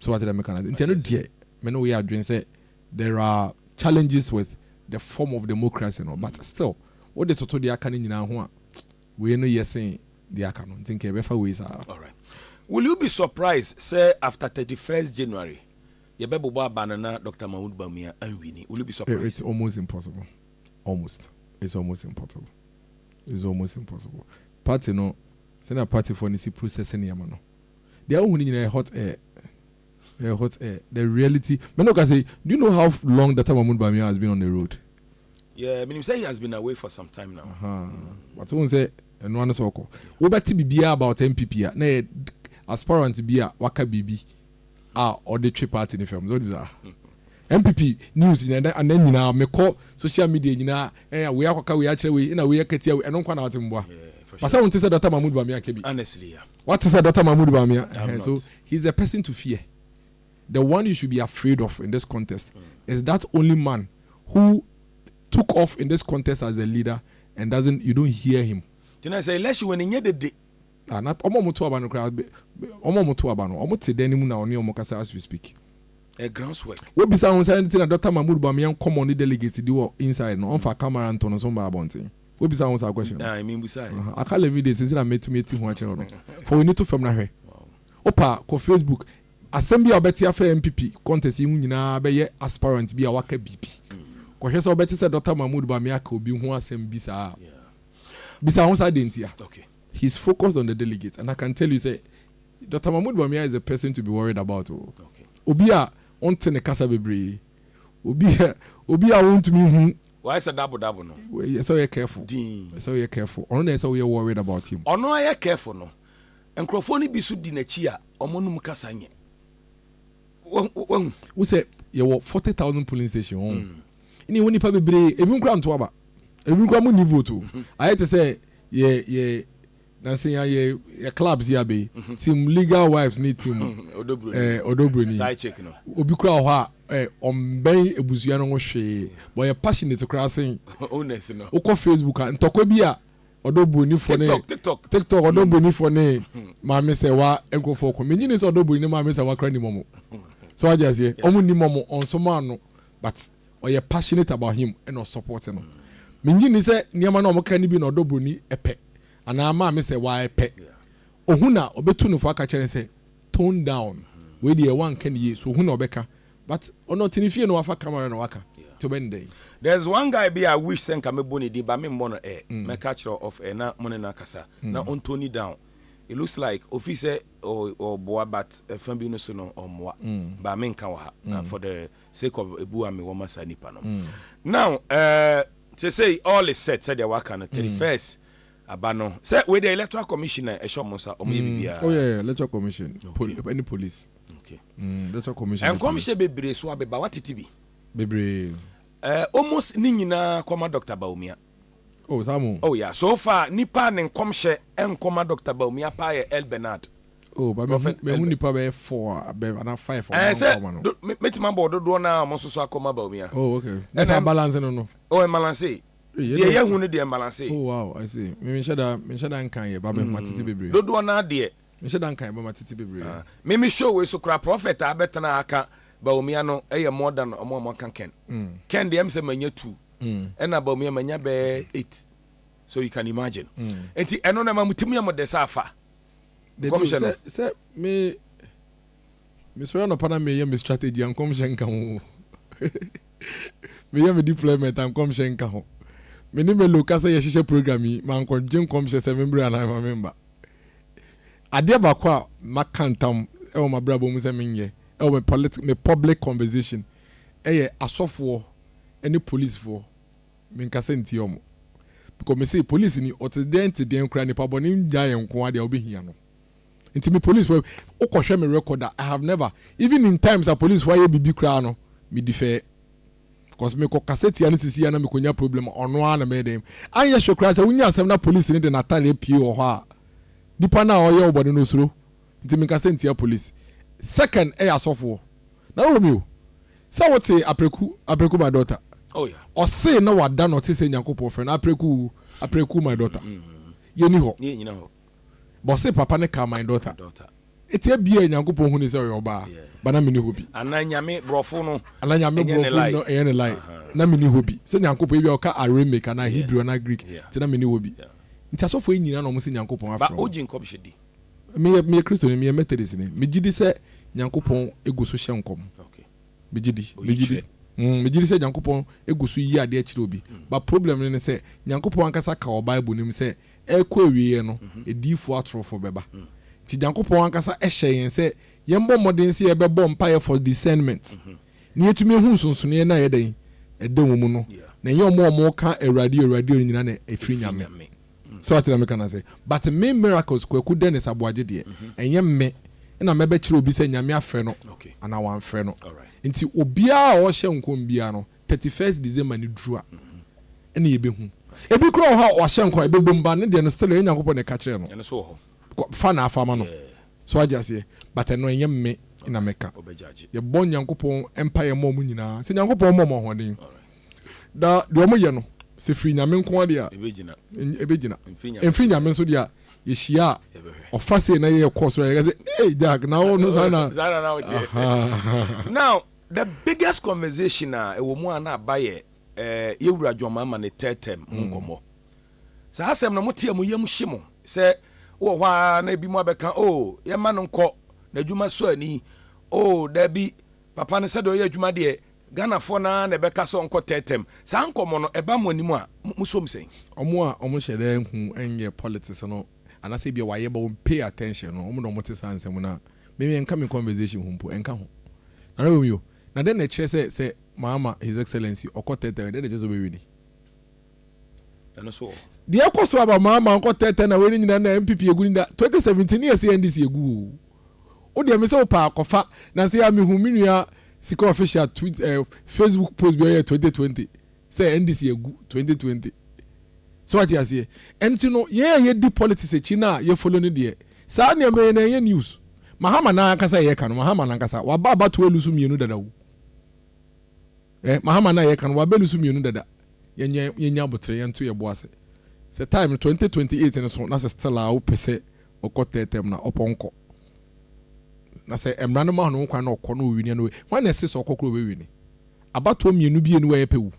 So wate deɛ
meka no ase?
Nti ɛno deɛ me ne wo yɛ adwene sɛ there are challenges with the form of democracy no but still wode toto deɛ aka no nyinaa ho a wei no yɛ sen deɛ aka no nti nka yɛbɛfa wei saa. Alright. Will
you be surprised sɛ after thirty first January yɛbɛbobɔ aba no na Doctor Mahmoud Bawumia anwini? Will you be surprised? It's almost
impossible. Almost. It's almost impossible. It's almost impossible. Party no, sɛnea partyfoɔ no si process nneɛma no, Deɛ wohu no nyinaa yɛ hot air. Ɛyɛ hot air. The reality. Me ne wo kasa yi, do you know how long Data Mahmoud Bawumia has been on the road? Yeah, menim
sɛ he has been away for some time now. Uh-huh. But wohu sɛ
ɛnoa no sɛ ɔkɔ. Wobɛte biribiara about NPP a, na ɛyɛ aspirant bi a waka biribi a ɔde twe party no fam. So wonim saa? NPP news nyinaa, anan nyinaa, mekɔ social media nyinaa, ɛna wei akɔka wei akyerɛ wei, ɛna wei akatia wei, ɛno nkwa na wote mboa. Yeah, for sure. Pasa wonte sɛ Data Mahmoud Bawumia ka bi. Honestly, yeah. Wate
sɛ Doctor Mahmoud
Bawumia? Ɛhɛn, so he is the person to fear. The one you should be afraid of in this contest is that only man who took off in this contest as the leader and doesn't, you don't hear him. Nti na sɛ election
wɔ ne nyɛ dede. Ah, na ɔmo ɔmo to aba no koraa, ɔmo ɔmo to aba
no, ɔmo te dan no mu na ɔne ɔmo kasa as we speak. A grounds
work. Wobisa ho sɛ ɛnti
na Doctor Mahmoud Bawumia nkɔmɔ ne delegates di wɔ inside no, ɔmfa camera nto no so mma abɔnten. Wobisa ho saa question no? Ae, mimbusae. Aha,
aka Levine deɛ sɛsi
na mɛtumi ati ho akyerɛ no. Fa w'ani to fam na hwɛ. Wopa a, kɔ Facebook. Asɛm bi a wobɛte afa NPP contest yi ho nyinaa bɛyɛ aspirant bi a waka biribi. Kɔhwɛ sɛ wobɛte sɛ Dɔkta Mahmood Bawumia aka obi ho asɛm bi saa a. Bisa ho saa dentia. He is focused on the delegates and I can tell you sɛ Dɔkta Mahmood Bawumia is a person to be worried about o. Obi a ɔnte ne kasa bebree. Obi a obi a wontumi nhu. Wayɛ sɛ dabo dabo
no. Ɛsɛ sɛ woyɛ careful. Dinn.
Ɛsɛ sɛ woyɛ careful. Ɔno na ɛsɛ sɛ woyɛ worried about him. Ɔno ayɛ careful no.
Nkurɔfoɔ no bi so di n'akyi a, wɔn anom kasa nyɛ. Wa, wahu.
Wohu sɛ yɛwɔ forty thousand polling station hɔ. Mm. Ɛna yɛwɔ nnipa bebree. Ebinom koraa nto aba. Ebinom koraa wɔnni vote o. Ayɛ te sɛ yɛ, yɛ. Na sɛ yɛ yɛ clubs yi abɛyi team legal wives ne team ɔdɔbroni
obi kura hɔ a
ɛ ɔmbɛn ebusua no ho hwee bɔ yɛ passionate kura sen wokɔ
facebook a ntɔkwa
bi a ɔdɔbroni fɔ ne tiktok ɔdɔbroni fɔ ne maame sɛ wa nkurɔfoɔ kɔ menyi ne sɛ ɔdɔbroni ne maame sɛ wa kura ni mɔmɔ sɛ wagye aseɛ ɔmo ni mɔmɔ ɔnso maa no but. Ɔyɛ passionate about him ɛna ɔsupport no. Me ngye nni sɛ nneɛma no a wɔka no bi na ɔdɔ broni pɛ anaa maame sɛ waa ɛpɛ. Ohu na ɔbɛtu no fo aka kyerɛ no sɛ tone down wei deɛ woanka no yie so ohu na ɔbɛka but ɔno ɔte ne fie na wafa camera na waka nti ɔbɛ no dɛn. There's one guy
bi a I wish sɛ nka mɛbɔ ne din but me mmɔ no air. Mɛka akyerɛ wo off air na mo ne no akasa na ɔntoni down. It looks like ɔfii sɛ ɔɔboa but ɛfa bi no so no ɔmmoa but menka wɔ ha na for the sake of ebu a mewɔ ma saa nipa no now eh, sesei all is set sɛdeɛ waka no thirty first aba no sɛ wei deɛ electoral commission na ɛhyɛ ɔmo nsa ɔmo yɛ biribiara. Mm. Oh yeah, yeah, electoral
commission pol ɛne police Okay. mm,
electoral commission
ne Nkɔmhyɛ police bebree so
abeba watete bi bebree. eh,
almost
ne nyinaa kɔma Doctor Bawumia. Oh saa mo.
Oh yeah so far
nipa a ne nkɔmhyɛ nkɔ ma Doctor Bawumia paa yɛ El Bernard. Oh ba mehu
mehu nipa bɛyɛ four a bɛ ana five a wɔn nkɔ ma no. Ɛɛ sɛ mɛtuma
bɔ dodoɔ naa wɔn nso so akɔ ma Bawumia. Oh okay ne saa
balance no no. Oh ɛmbalanse
deɛ yɛ hu no deɛ ɛmbalanse. Oh wow I see
me nhyɛ da me nhyɛ da nkan yɛ ba mɛ ma tete bebree. Dodoɔ naa deɛ
Mehyɛ da nka yɛbɛma
tete bebree. Me me show wei so
koraa prophet a abɛtena ha aka Bawumia no ɛyɛ more than ɔmo a ɔmo aka Ken. Ken deɛ ɛm sɛ manya two ɛna Bawumia manya bɛɛ eight so you can imagine. Nti ɛno no ɛma mo tirim yɛ mo dɛ sɛ afa nkɔmhyɛ
no. Dabi o sɛ me me sɔre anɔpa na meyɛ me strategy a nkɔmhyɛ nka ho o. Meyɛ me deployment a nkɔmhyɛ nka ho. Me ne Melo ka sɛ yɛhyehyɛ program yi mankɔgye nkɔmhyɛ sɛ me mbrɛ anaa ɛma me mba. Adeɛ baako a maka ntam wɔ m'abrabɔ mu sɛ menyɛ wɔ me pɔlit me public conversation yɛ asɔfoɔ ne policefoɔ menkasa ntia wɔn because me se police ni ɔte deɛn te deɛn koraa nipa bɔne ngya yɛ nko ara deɛ wobɛhia no nti me policefoɔ wokɔhwɛ me record a I have never even in times a policefoɔ ayɛ biribi koraa no me defɛɛ Cause me kɔ kasa tia no sisi a na me kɔ nya problem ɔno ara na mɛyɛ dɛm. Anyɛ hwɛ koraa sɛ wonya asɛm na police no de n'atare apue wɔ hɔ a nipa no a ɔyɛ wo bɔne no osuro nti me nkasa ntia police. Second ɛyɛ asɔfoɔ. Nana Romeo sɛ wo te Apreku, Apreku my daughter ɔse
na wada
no ɔte sɛ Nyankopɔn frɛ no Apreku, Apreku my daughter yɛni hɔ.
But ɔse papa
no kaa my daughter. Eti ebia Nyankopɔn hunii sɛ ɔyɛ ɔbaa but na menni hɔ bi. Anaa Nyame borɔfo
no Anaa Nyame ɛnyɛ ne borɔfo lie.
no ɛnyɛ ne lie. Na menni hɔ bi. Sɛ Nyankopɔn ebia ɔka Aramaic anaa Hebrew anaa Greek nti na menni hɔ bi. Nti asɔfoɔ yi nyinaa na wɔn se Nyankopɔn But afrɛ wɔn. ogye nkɔmhyɛ di.
Meyɛ meyɛ
Kristoni, meyɛ Methodist ni. Megye di sɛ Nyankopɔn gu so hyɛ nkɔm. Megye
di, Oyi
megye di. kyerɛ. Mm, megye di sɛ Nyankopɔn gu so yi adeɛ kyerɛ obi. But problem no ne sɛ Nyankopɔn ankasa ka wɔ Bible no mu sɛ ɛrekɔ awieɛ no, adiyifoɔ atorofoɔ bɛba. Nti Nyankopɔn ankasa hyɛɛ yɛn sɛ yɛmbɔ mmɔden sɛ yɛbɛbɔ mpaeɛ for discernment, na yɛatumi ahu nsonsonoeɛ no a ɛyɛ dɛn? ɛda wɔn mu no, na ɛnyɛ wɔn a wɔreka Awurade o, Awurade o no nyinaa na ɛfiri Nyame. So wate deɛ meka no ase? But me Miracles Kwaku Dennis Aboagye deɛ, ɛnyɛ me na mɛbɛkyerɛ obi sɛ Nyame afrɛ no anaa wamfrɛ no. Nti obiara a ɔrehyɛ nkɔm biara no, Thirty first December no duru a, ɛna yɛbɛhu. Ɛbi koraa wɔ hɔ a wɔahyɛ nkɔm a ɛbɛbom but ne deɛ no still ɛyɛ Nyankopɔn na ɛka kyerɛɛ no. Ɛno nso wɔ
hɔ. Kɔ fa na afa ma
no. Yeah. So wate aseɛ? But ɛno ɛnyɛ me na mɛka. Ɔbɛ judge. Yɛbɔ Nyankopɔn mpaeɛ ma wɔn nyinaa sɛ Nyankopɔn mmɔ wɔn ahoɔden. Alright. Na deɛ wɔn yɛ no, sɛ firi Nyame nko ara deɛ a, Ɛbɛgyina. ɛny ɛbɛgyina. Ɛmfiri Nyame Ɛmfiri nso Nyame deɛ. nso deɛ a, yɛhyia a, Yɛbɛhwɛ. ɔfa sei na yɛkɔ soro a, yɛka sɛ, Hey Jack, na wo no saa na. Saa na na woteɛ. Ahaa. Now,
The biggest conversation a ɛwɔ mu a na aba yɛ eh, yɛ wura John Mahama ne third term ho nkɔmmɔ. Saa asɛm no mote a mo yam hye mo sɛ wowɔ hɔ ara na ebi mo abɛka oh yɛmma no nkɔ n'adwuma so ani oh daabi papa no sɛdeɛ ɔyɛ adwuma deɛ Ghanafoɔ no ara na ɛbɛka sɛ ɔnkɔ third term. Saa nkɔmmɔ no ɛba mo anim a mo som sɛn? Ɔmo a ɔmo hyɛ
da nhu nyɛ politics no anaasɛ ebia wɔayɛ but wɔn pay attention no wɔn na wɔn te saa nsɛm no a me me ɛnka me conversation ho mpo ɛnka ho Nana Romeo na dɛn na ɛkyerɛ sɛ sɛ maama his excellency ɔkɔ tɛɛtɛɛ dɛn na ɛkyerɛ sɛ ɔbɛ wini
ɛno so wɔ hɔ. Deɛ ɛkɔ so aba
maa maa nkɔ tɛɛtɛ na wei ne nyinaa na NPP egu ne da 2017 ne yɛsɛ NDC egu o. Wo deɛ me sɛ wo paa kɔfa na sɛ yɛ a me hu me nua sika official tweet eh, Facebook post bi ɔyɛ 2020. sɛ ɛnde si agu twenty twenty so wate aseɛ ɛnti no yɛn a yɛdi politics akyi no a yɛfolo no deɛ saa nneɛma yi na ɛyɛ news mahama no ankasa yɛka no mahama no ankasa waba abato alu so mmienu dada wo eh mahama no yɛka no waba alu so mmienu dada yɛnya yɛnya abotere yɛnto yɛbo ase sɛ time twenty twenty eight no so na sɛ still a wopɛ sɛ ɔkɔ tɛɛtɛm na ɔpɔnkɔ na sɛ mmara no ma no kwan na ɔkɔ na ɔwini no wɔn na ɛse sɛ ɔkɔ koro ɔbɛwini Abatoɔ mmienu bie no ɛɛpɛ o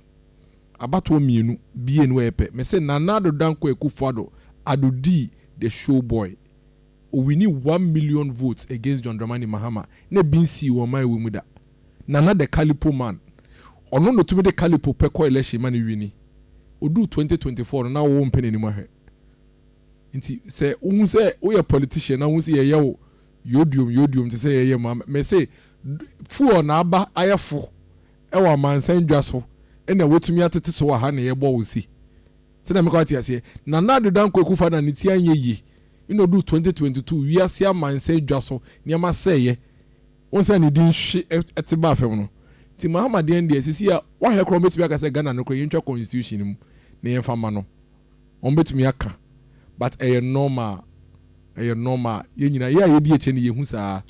Abatoɔ mmienu bie no ɛɛpɛ Mese Nana Addo Dankwa Akuffo Addo Addo dii the show boy Owini one million votes against John Dramani Mahama na ebi nsii wɔ ɔman wei mu da Nana the Kalipo man Ɔno na otumi de Kalipo pɛ kɔ election ma no wini Oduru twenty twenty four no na wo mpɛ n'anim ahwɛ Nti sɛ wohu sɛ woyɛ politician na wohu sɛ yɛyɛ wo Yodium yodium te sɛ yɛyɛ mu a me se fuel na aba ayɛ fo wɔ amansan dwa so na watumi atete so wɔ ha na yɛbɔ ose sɛnea meka wate aseɛ Nana Addo Dankwa Akuffo Addo ne ti anyɛ yie na ɔduu 2022 wiase amansan dwa so nneɛma sɛeɛ wohu sɛnea ne din hwe te baa fam no nti Mahama deɛn deɛ seesei a wahwɛ koraa wɔbɛtumi aka sɛ Ghana no koraa yɛntwa constitution no mu na yɛmfa mma no Wɔn bɛtumi aka but ɛyɛ normal ɛyɛ normal yɛn nyinaa yɛ a yɛdi akyire no yɛhu saa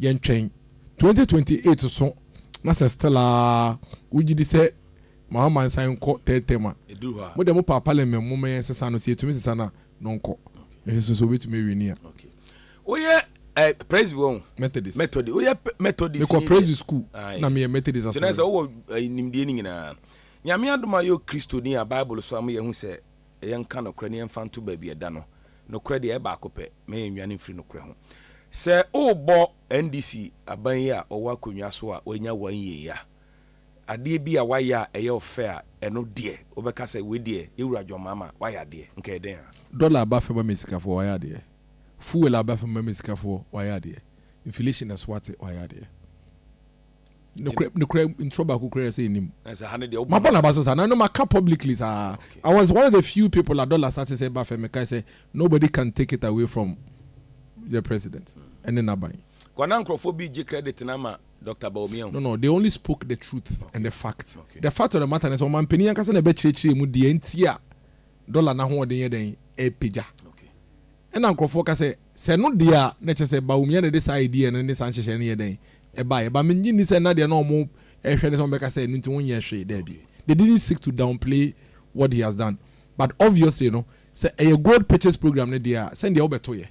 yɛn twɛn 2028 so na sɛ still a wogye di sɛ ma ama nsan nkɔ third term a mo deɛ mo paa parliament mo ma yɛn sesa no sɛ yɛtumi sesa no a no nkɔ ɛhwɛ so so wobɛtumi awie ni a. Woyɛ eh,
presby wɔn methodist methodist woyɛ methodist mekɔ presby school
na meyɛ methodist asɔre sɛ wowɔ eh,
nimdeɛ no nyinaa Nyame adom a yɛwɔ Kristoni a Bible soa ma yɛahu sɛ yɛnka nokorɛ na yɛmfa nto baabi a ɛda no. Nokorɛ deɛ, ɛyɛ baako pɛ, na yɛnnwane mfiri nokorɛ ho. Sɛ worebɔ NDC aban yi a ɔwɔ akonnwa so a wanya wɔ NYEE a, adeɛ bi a wayɛ a ɛyɛ wo fɛ a, ɛno deɛ wobɛka sɛ wei deɛ Yɛwura John Mahama wayɛ adeɛ, nka ɛyɛ dɛn a? Dɔla aba fam ama
sikafoɔ, wayɛ adeɛ. Fuel aba fam ama sikafoɔ, wayɛ adeɛ. Inflation so ate, wayɛ adeɛ. nokorɛ ntorɔ baako kura sɛ ɛnim mabɔ
naba so saa na no
maka publicly saa i was one of the few people a dollar start sɛ ba fɛ mekae sɛ nobody can take it away from your president ɛne naban kwana nkurɔfoɔ bi
gye credit na ama dr baomia no no they only spoke the
truth and the fact the fact of the matter ne sɛ ɔmampanin ankasa na ɛbɛkyerɛkyerɛ mu deɛ nti a dɔla no ahoɔden yɛ dɛn repagya. Ɛna nkorɔfoɔ ka sɛ, sɛ ɛno deɛ a na ɛkyɛ sɛ Bawumia na ɛde saa idea no ne saa nhyehyɛe no yɛ dɛn ɛbaeɛ. But mennye nni sɛ na deɛ na wɔn ɛrehwɛ ne sɛ wɔbɛka sɛ ɛno nti wonyɛɛ hwee. Daabi. They didn't seek to downplay what he has done. But obviously no, sɛ ɛyɛ gold purchase program no deɛ a, sɛndeɛ wobɛtoeɛ.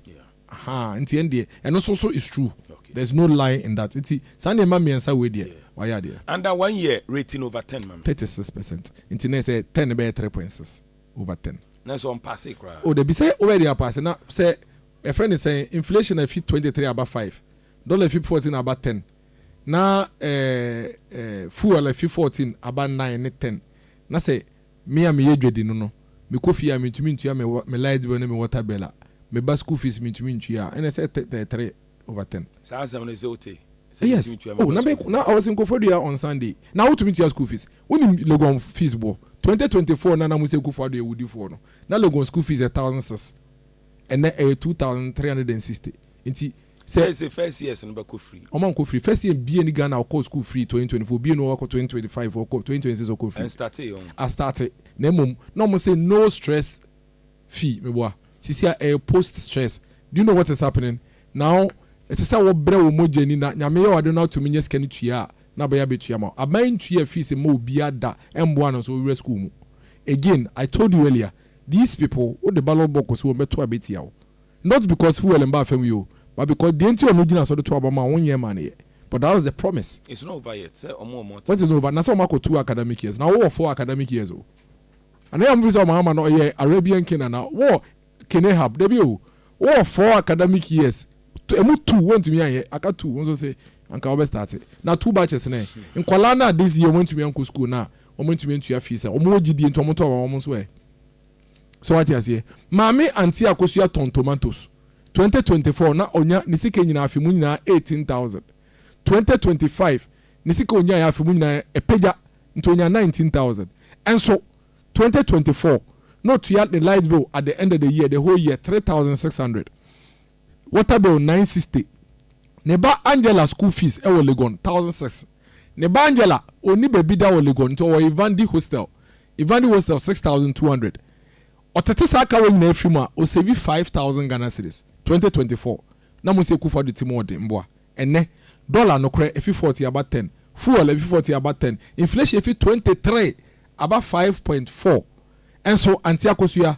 Ahaa nti ɛndeɛ ɛno nso so is true there is no lie in that nti saa nneɛma mmiɛnsa wei deɛ wayɛ adeɛ. Under one year rating
over ten ma me. Thirty six percent nti
na ɛsɛ ten no bɛyɛ three point six over ten. Nanso ɔmpaasee
koraa. Oh dabi sɛ wobɛyɛ deɛ
apaase na sɛ yɛfrɛ no sɛn inflation afi twenty three aba five, dollar afi fourteen aba ten na ɛɛ ɛɛ fuel afi fourteen aba nine ne ten na sɛ Me a meyɛ dwadi no no, mekɔ fie a mentumi ntua me me light bill ne me water bill a, me ba school fees mentumi ntua a, ɛna ɛsɛ tɛ tɛ three over ten. Saa asɛm no sɛ wote
sɛ Yes, mentumi ntua me oh, ba
na school me fees. na I was in Koforidua on Sunday, na wotumi tua school fees. Wonim Legon fees boɔ? Twenty twenty four na na mose Kuffo Addo yɛ wodifoɔ no, na Legon school fees yɛ thousand six, ɛnɛ ɛyɛ two thousand three hundred and sixty. Nti, Sɛ. Sɛ sɛ first
years no bɛkɔ free. Ɔmo ankɔ free. First year
bia ni Ghana ɔkɔɔ school free twenty twenty four obia ni hɔ ɔkɔ twenty twenty five ɔkɔ twenty twenty six ɔkɔ free. Ɛnstartee ɔho.
Astarte
na mmom na ɔmo se no stress fee meboa sisi a ɛyɛ post stress do you know what is happening now ɛsɛ sɛ wo brɛ wo mogya ni na Nyame yɛ w'ade na watumi nya sika no tua a na bɛyɛ abɛtua ma wo aban ntua fees mma obia da ɛmboa no nso ɔwura school mu again I told you earlier these people wode ballot box si wɔn bɛto a bɛtia wo. Not because fuel mbaa famu yi o but because deɛ nti ɔno gyina so de to aba ma won nyɛ ma no yɛ but that was the promise. It's not over yet sɛ ɔmo wɔ
more
time. What is not over? Na sɛ
ɔmo
akɔ two
academic
years na wowɔ
four
academic
years
o ana yɛ ɔmo pɛ sɛ ɔmo ama no ɔyɛ Arabian king ana wɔ king Ahab dabi o wowɔ four academic years ɛmu two wontumi anyɛ aka two wonso se anka wobɛ start na two batches nɛ nkwadaa no a this year ɔmo antumi ankɔ school na ɔmo antumi antua fees a ɔmo wɔ gyidie nti ɔmo to aba ma ɔmo nso ɛ So wate aseɛ? Maame Antia Akosua tɔn tomatoes twenty twenty four na ɔnya ne sika nyinaa afe mu nyinaa eighteen thousand. Twenty twenty five ne sika ɔnyaeɛ afe mu nyinaa apagya nti ɔnya nineteen thousand. Nso twenty twenty four na ɔtua ne light bill at the end of the year the whole year three thousand six hundred. Water bill nine sixty, ne ba Angela school fees wɔ Legon thousand six, ne ba Angela ɔnni baabi da wɔ Legon nti ɔwɔ Ivandi hostel, Ivandi hostel six thousand two hundred, ɔtete saa kawa nyinaa firi mu a ɔsɛvi five thousand Ghana cedis, twenty twenty four na Mosey Kuffo Addo ti mu ɔden mboa ɛnnɛ dollar nokorɛ ɛfiri forty aba ten, fuel ɛfiri forty aba ten, inflation ɛfiri twenty three aba five point four nso Anti Akosua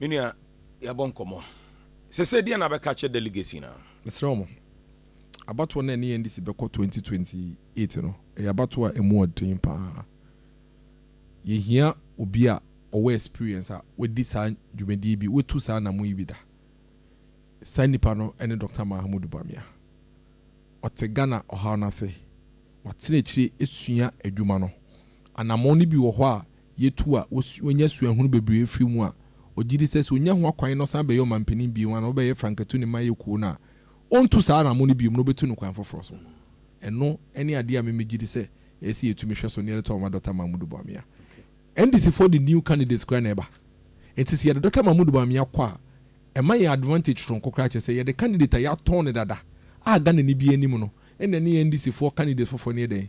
Me nua, yɛabɔ nkɔmmɔ. Sese deɛ na abɛka akyerɛ delegates nyinaa? Mesrɛ mo,
abatoɔ no a ɛne NDC bɛkɔ 2028 no, ɛyɛ abatoɔ a ɛmu yɛ den pa ara. Yɛhia obi a ɔwɔ experience a wadi saa dwumadie bi, watu saa anammɔn yi bi da. Saa nipa no ne Doctor Mahamudu Bawumia. Ɔte Ghana ɔhaw no ase. Watena akyire asua adwuma no. Anammɔn no bi wɔ hɔ a, yɛtu a wanya suahunu bebree afiri mu a, ɔgye di sɛ sɛ ɔnya ho akwan na ɔsan bɛyɛ ɔmampanin bio a na ɔbɛyɛ frankatu ne mayɛ kuo no a, ɔntu saa anamɔ no bio na ɔbɛtu no kwan foforɔ so. Ɛno ne adeɛ a me megye di sɛ ɛyɛ sɛ yɛtumi hwɛ so na yɛde to ama Dɔkta Mahmudu Bawumia. NDC foɔ de new candidates koraa na ɛba nti sɛ yɛde Dɔkta Mahmudu Bawumia kɔ a ɛma yɛn advantage soronko koraa kyerɛ sɛ yɛde candidate a yɛatɔn no dada a Ghanani biara nim no na ɛne NDC foɔ candidates foforɔ no yɛ dɛn?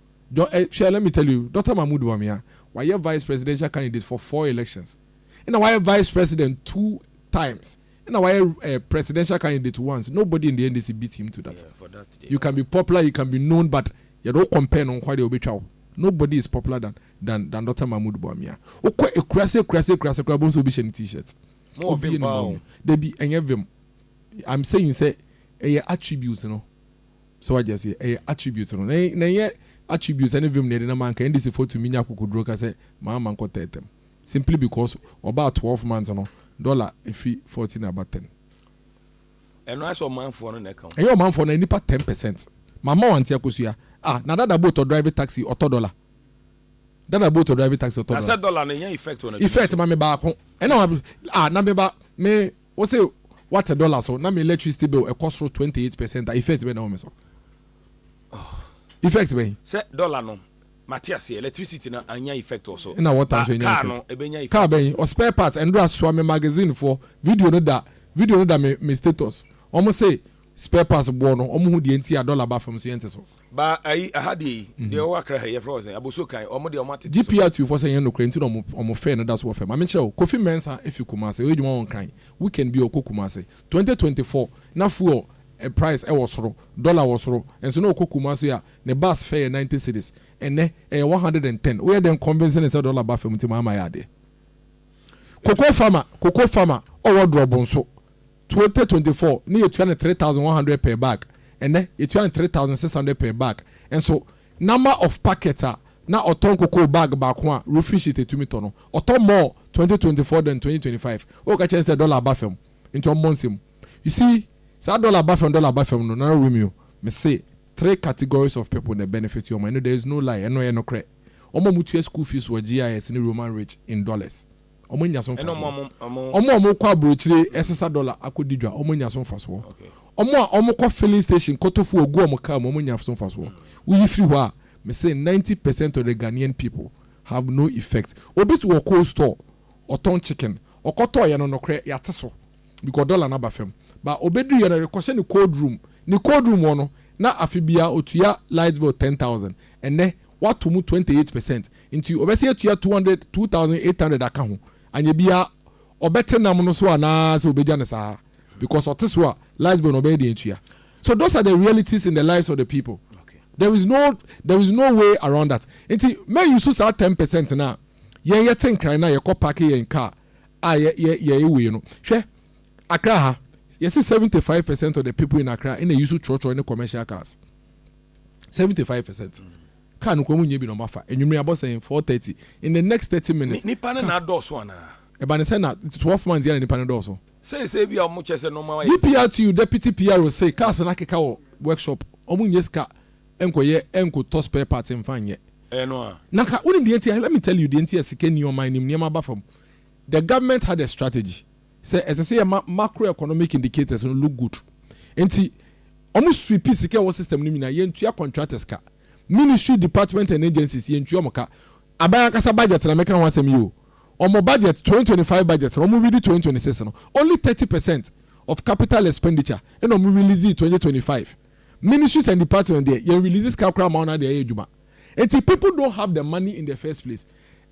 John eh hwɛ let me tell you Doctor Mahmood Bawumia wayɛ vice presidential candidate for four elections ɛna wayɛ vice president two times ɛna wayɛ eh presidential candidate once nobody in the NDC beat him to that you can be popular you can be known but yɛde wo compare no nko adeɛ obetwa wo nobody is popular than than than Doctor Mahmood Bawumia wokɔ ekurase ekurase ekurase koraa bohu sɛ obi hyɛ ne t-shirt obi yɛ ne
dabi ɛnyɛ vim
I'm saying sɛ ɛyɛ attribute no. So wagye aseɛ? Ɛyɛ attribute no. Na na ɛnyɛ attribute ne vim na yɛde nam anka NDC foɔ tumi nya akokoduro ka sɛ maa ma nkɔ tɛɛtɛm simply because wɔbaa twelve months no dollar ɛfiri fourteen aba ten.
Ɛno ayɛ sɛ ɔmanfoɔ no na ɛka ho. Ɛnyɛ ɔmanfoɔ no ɛyɛ nipa
ten percent. Ma ma wante akosua. Ah na dada boat ɔdrive taxi ɔtɔ dollar. Dada boat ɔdrive taxi ɔtɔ dollar. Na sɛ dollar no ɛnya
effect
wɔ
n'adwuma so. Effect ma me baako.
Ɛna ah na me ba me. Wo se wate dollar so na me electricity bill ɛkɔ soro twenty eight percent a effect bɛn na ɛwɔ me so? Effect bɛn? Sɛ dollar no
mate aseɛ, electricity no annya effect wɔ so. Ɛna water Ba nso ɛnya car no
effect. ɛbɛnya Car effect.
bɛn? Ɔ spare parts
ɛndura asoa me magazine foɔ video no da video no da me me status wɔn se spare parts boɔ no wɔn ho deɛ nti a dollar ba fam so yɛnte so. Ba ayi aha
deɛ yi deɛ ɔwɔ akra ha yi yɛfrɛ wɔ sɛn abosuo kan ɔmo deɛ ɔmo atete so. GP atufoɔ sɛ ɛnyɛ nokorɛ
nti na ɔmo ɔmo fɛ no da so wɔ fam. Maame nkyerɛ wo, Kofi Mɛnsa fi Kumase, ɔyɛ adwuma wɔ Nkran, weekend biara ɔkɔ Kumase. Twenty twenty four, na fuel price wɔ soro, dollar wɔ soro, nso na ɔkɔ Kumase a, ne bus fare yɛ ninety cedis, ɛnnɛ ɛyɛ one hundred and ten, woyɛ dɛn convince no sɛ dollar ba fam nti ma ama ayɛ adeɛ? Cocoa farmer, cocoa farmer, ɔwɔ Drɔbo nso. 2024 na yetua no three thousand one hundred per bag, ɛnnɛ yetua no three thousand six hundred per bag. Nso number of packets a na ɔtɔ nkokoo bag baako a roofing sheet etumi tɔ no, ɔtɔ more twenty twenty four than twenty twenty five. Wokɔka kyerɛ no sɛ dollar aba fam nti ɔmmɔ nsam. You see, saa dollar aba fam dollar aba fam no Nana Romeo, mese three categories of people na ɛbenefit wɔn, ɛno there is no lie, ɛno ɛyɛ nokorɛ. Wɔn a wɔtua school fees wɔ GIS ne Roman rich in dollars. wɔn nya so mfasoɔ, wɔn a wɔn kɔ aburokyire ɛsesa dɔla akɔ di dwa wɔn nya so mfasoɔ, wɔn a wɔn kɔ filling station kɔtɔ fuel gu wɔn car mu wɔn nya so mfasoɔ, wo yi firi hɔ a, me se ninety percent of the Ghanaian people have no effect, obi to wɔ cold store ɔtɔn chicken, ɔkɔ tɔɔ yɛ no nokorɛ yate so because dɔla no aba fam, but ɔbɛ duru yɛ no rekɔ hyɛ ne cold room, ne cold room hɔ no na afe biara ɔtua light bill ten thousand, ɛnɛ wato mu twenty eight percent, Nti ɔbɛsan atua two hundred, two thousand eight hundred aka ho. Anyɛ biaa ɔbɛte nam no so anaa sɛ ɔbɛgya no saa? Because ɔte so a last born ɔbɛyɛ deɛn atua? So those are the realities in the lives of the people. There is no there is no way around that. Nti mɛ use saa ten percent no a yɛn yɛte nkran no a yɛkɔ parke yɛn car a yɛ yɛ yɛyɛ wei no. Hwɛ Accra ha yɛse seventy five percent of the people in Accra ɛna use trɔtrɔ ne commercial cars. Seventy five percent. Car no koraa wonnya bi na ɔma fa. Anwummere abɔ sɛn? Four thirty. In the next thirty minutes. Ni, nipa no na adɔɔso
anaa? Ɛba ne sɛ na
twelve months yi ara na nipa no dɔɔso. Seesei ebia wɔn kyerɛ
sɛ nnoɔma ayɛ den. GPRTU deputy
PRO se cars no akeka wɔ workshop, wɔn nnya sika nkɔyɛ nkotɔ spare parts mfa nyɛ. Ɛyɛ no ara. Na
ka, wonim deɛ nti a? Let
me tell you deɛ nti a sika nni ɔman no mu, nneɛma aba fam. The government had a strategy. Sɛ ɛsɛ sɛ yɛma macro economic indicators no look good nti wɔn sweep sika a ɛwɔ system no mu nyinaa, yɛntua contractors ka, ministry, department and agencies yɛntua wɔn ka, aban ankasa budget na meka ho asɛm yi o, wɔn budget, twenty twenty five budget na wɔn redi twenty twenty six no, only thirty percent of capital expenditure na wɔn release twenty twenty five, ministries and department deɛ yɛn release sika koraa mma wɔn na deɛ ayɛ adwuma nti people don't have the money in the first place.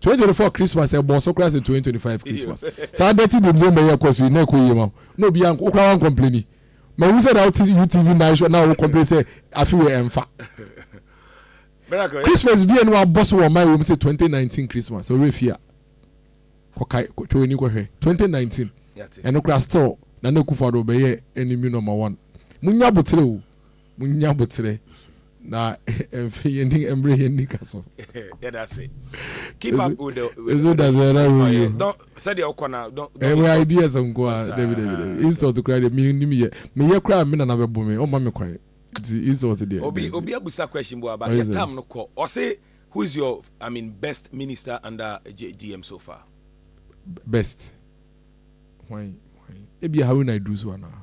twenty twenty four christmas ɛbɔ so koraa sɛ twenty twenty five christmas saa dɛti di mzee mbɛyɛ ɛkɔ so yi na ɛkɔ yie ma na obi anko okura wɔn kɔmpleni ma ehu sɛ na ɔte utv night show na ɔwɔ kɔmpleni sɛ afi wɔ ɛnfa christmas bi yɛ no wabɔ so wɔ ɔman wɔm sɛ twenty nineteen christmas ɔwɔ efi a kɔkae kɔtwa wɔn ani kɔhwɛ twenty nineteen ɛno koraa still na na ekufa do bɛyɛ ɛni mi nɔma wɔn mo nya abotire o. Munnya aboterɛ na mfe yɛn ni mmerɛ yɛn ni ka so. Yɛda ase.
Keep up with the with the dasɛn na wo
yio. Don't sɛ deɛ ɔkɔ
na don't. Ɛwɛ ideas nko a
dabi dabi dabi insult kura deɛ mi ni mi yɛ mi yɛ kura mi nana bɛ bɔ mi ɔma mi kwan nti insult deɛ. Obi obi abusa question
bu aba yɛ tam no kɔ ɔsi who is your I mean best minister under GM so far. Best
hwan hwan ebi Haruna Iddrisu anaa.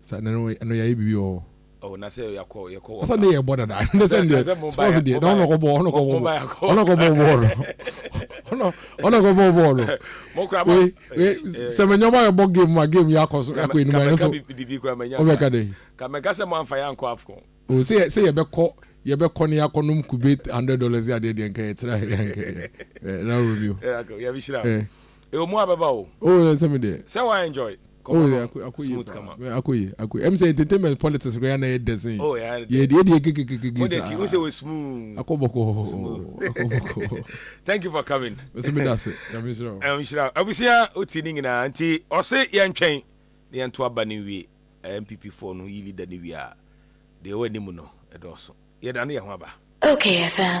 Sa na no ɛno
yɛayɛ biribi wɔ hɔ. Oh na sɛ yɛakɔ
yɛkɔ wɔ. Asa ne yɛbɔ dada
ne sɛ ne sponsor deɛ na ɔna kɔbɔ ɔna kɔbɔ ɔna kɔbɔ bɔɔl ɔna ɔna kɔbɔ bɔɔl we
we sɛ
mɛ nyɔma yɛ bɔ game ma game yɛ akɔ so akɔ enuma yɛ so ɔbɛ ka
de. Kamɛka
sɛ mo anfa yɛ
ankɔ afcon. O sɛ sɛ yɛ bɛ
kɔ yɛ bɛ kɔ ne yɛ akɔ nom kube hundred dollars yɛ adeɛ deɛ nka yɛ tira yɛ nka yɛ ɛɛ na rɔ bi o. Yɛ bi hyira.
Ewo mu abɛba o. Oh yɛ nsɛm deɛ. Sɛ
wa enjoy nkɔmɔ
no smooth
kama. Oh yɛ akɔ yie akɔ yie. Ɛm sɛ entertainment politics koraa na yɛ dɛ sen. Oh yɛ dɛ. Yɛ deɛ deɛ
kekekeke saa. Mo
deɛ ki o sɛ wɔ smooth.
Akɔ bɔkɔɔ oh akɔ bɔkɔɔ. Thank you for coming. Me so me da se
Nyame nhyira wo. Nyame nhyira wo.
Abusua wo ti ne nyinaa nti ɔse yɛ ntwɛn na yɛ nto aba no nwie NPP foɔ no yi leader no wie a deɛ ɛwɔ anim no ɛdɔɔso yɛ da no yɛ ho aba. Okay FM.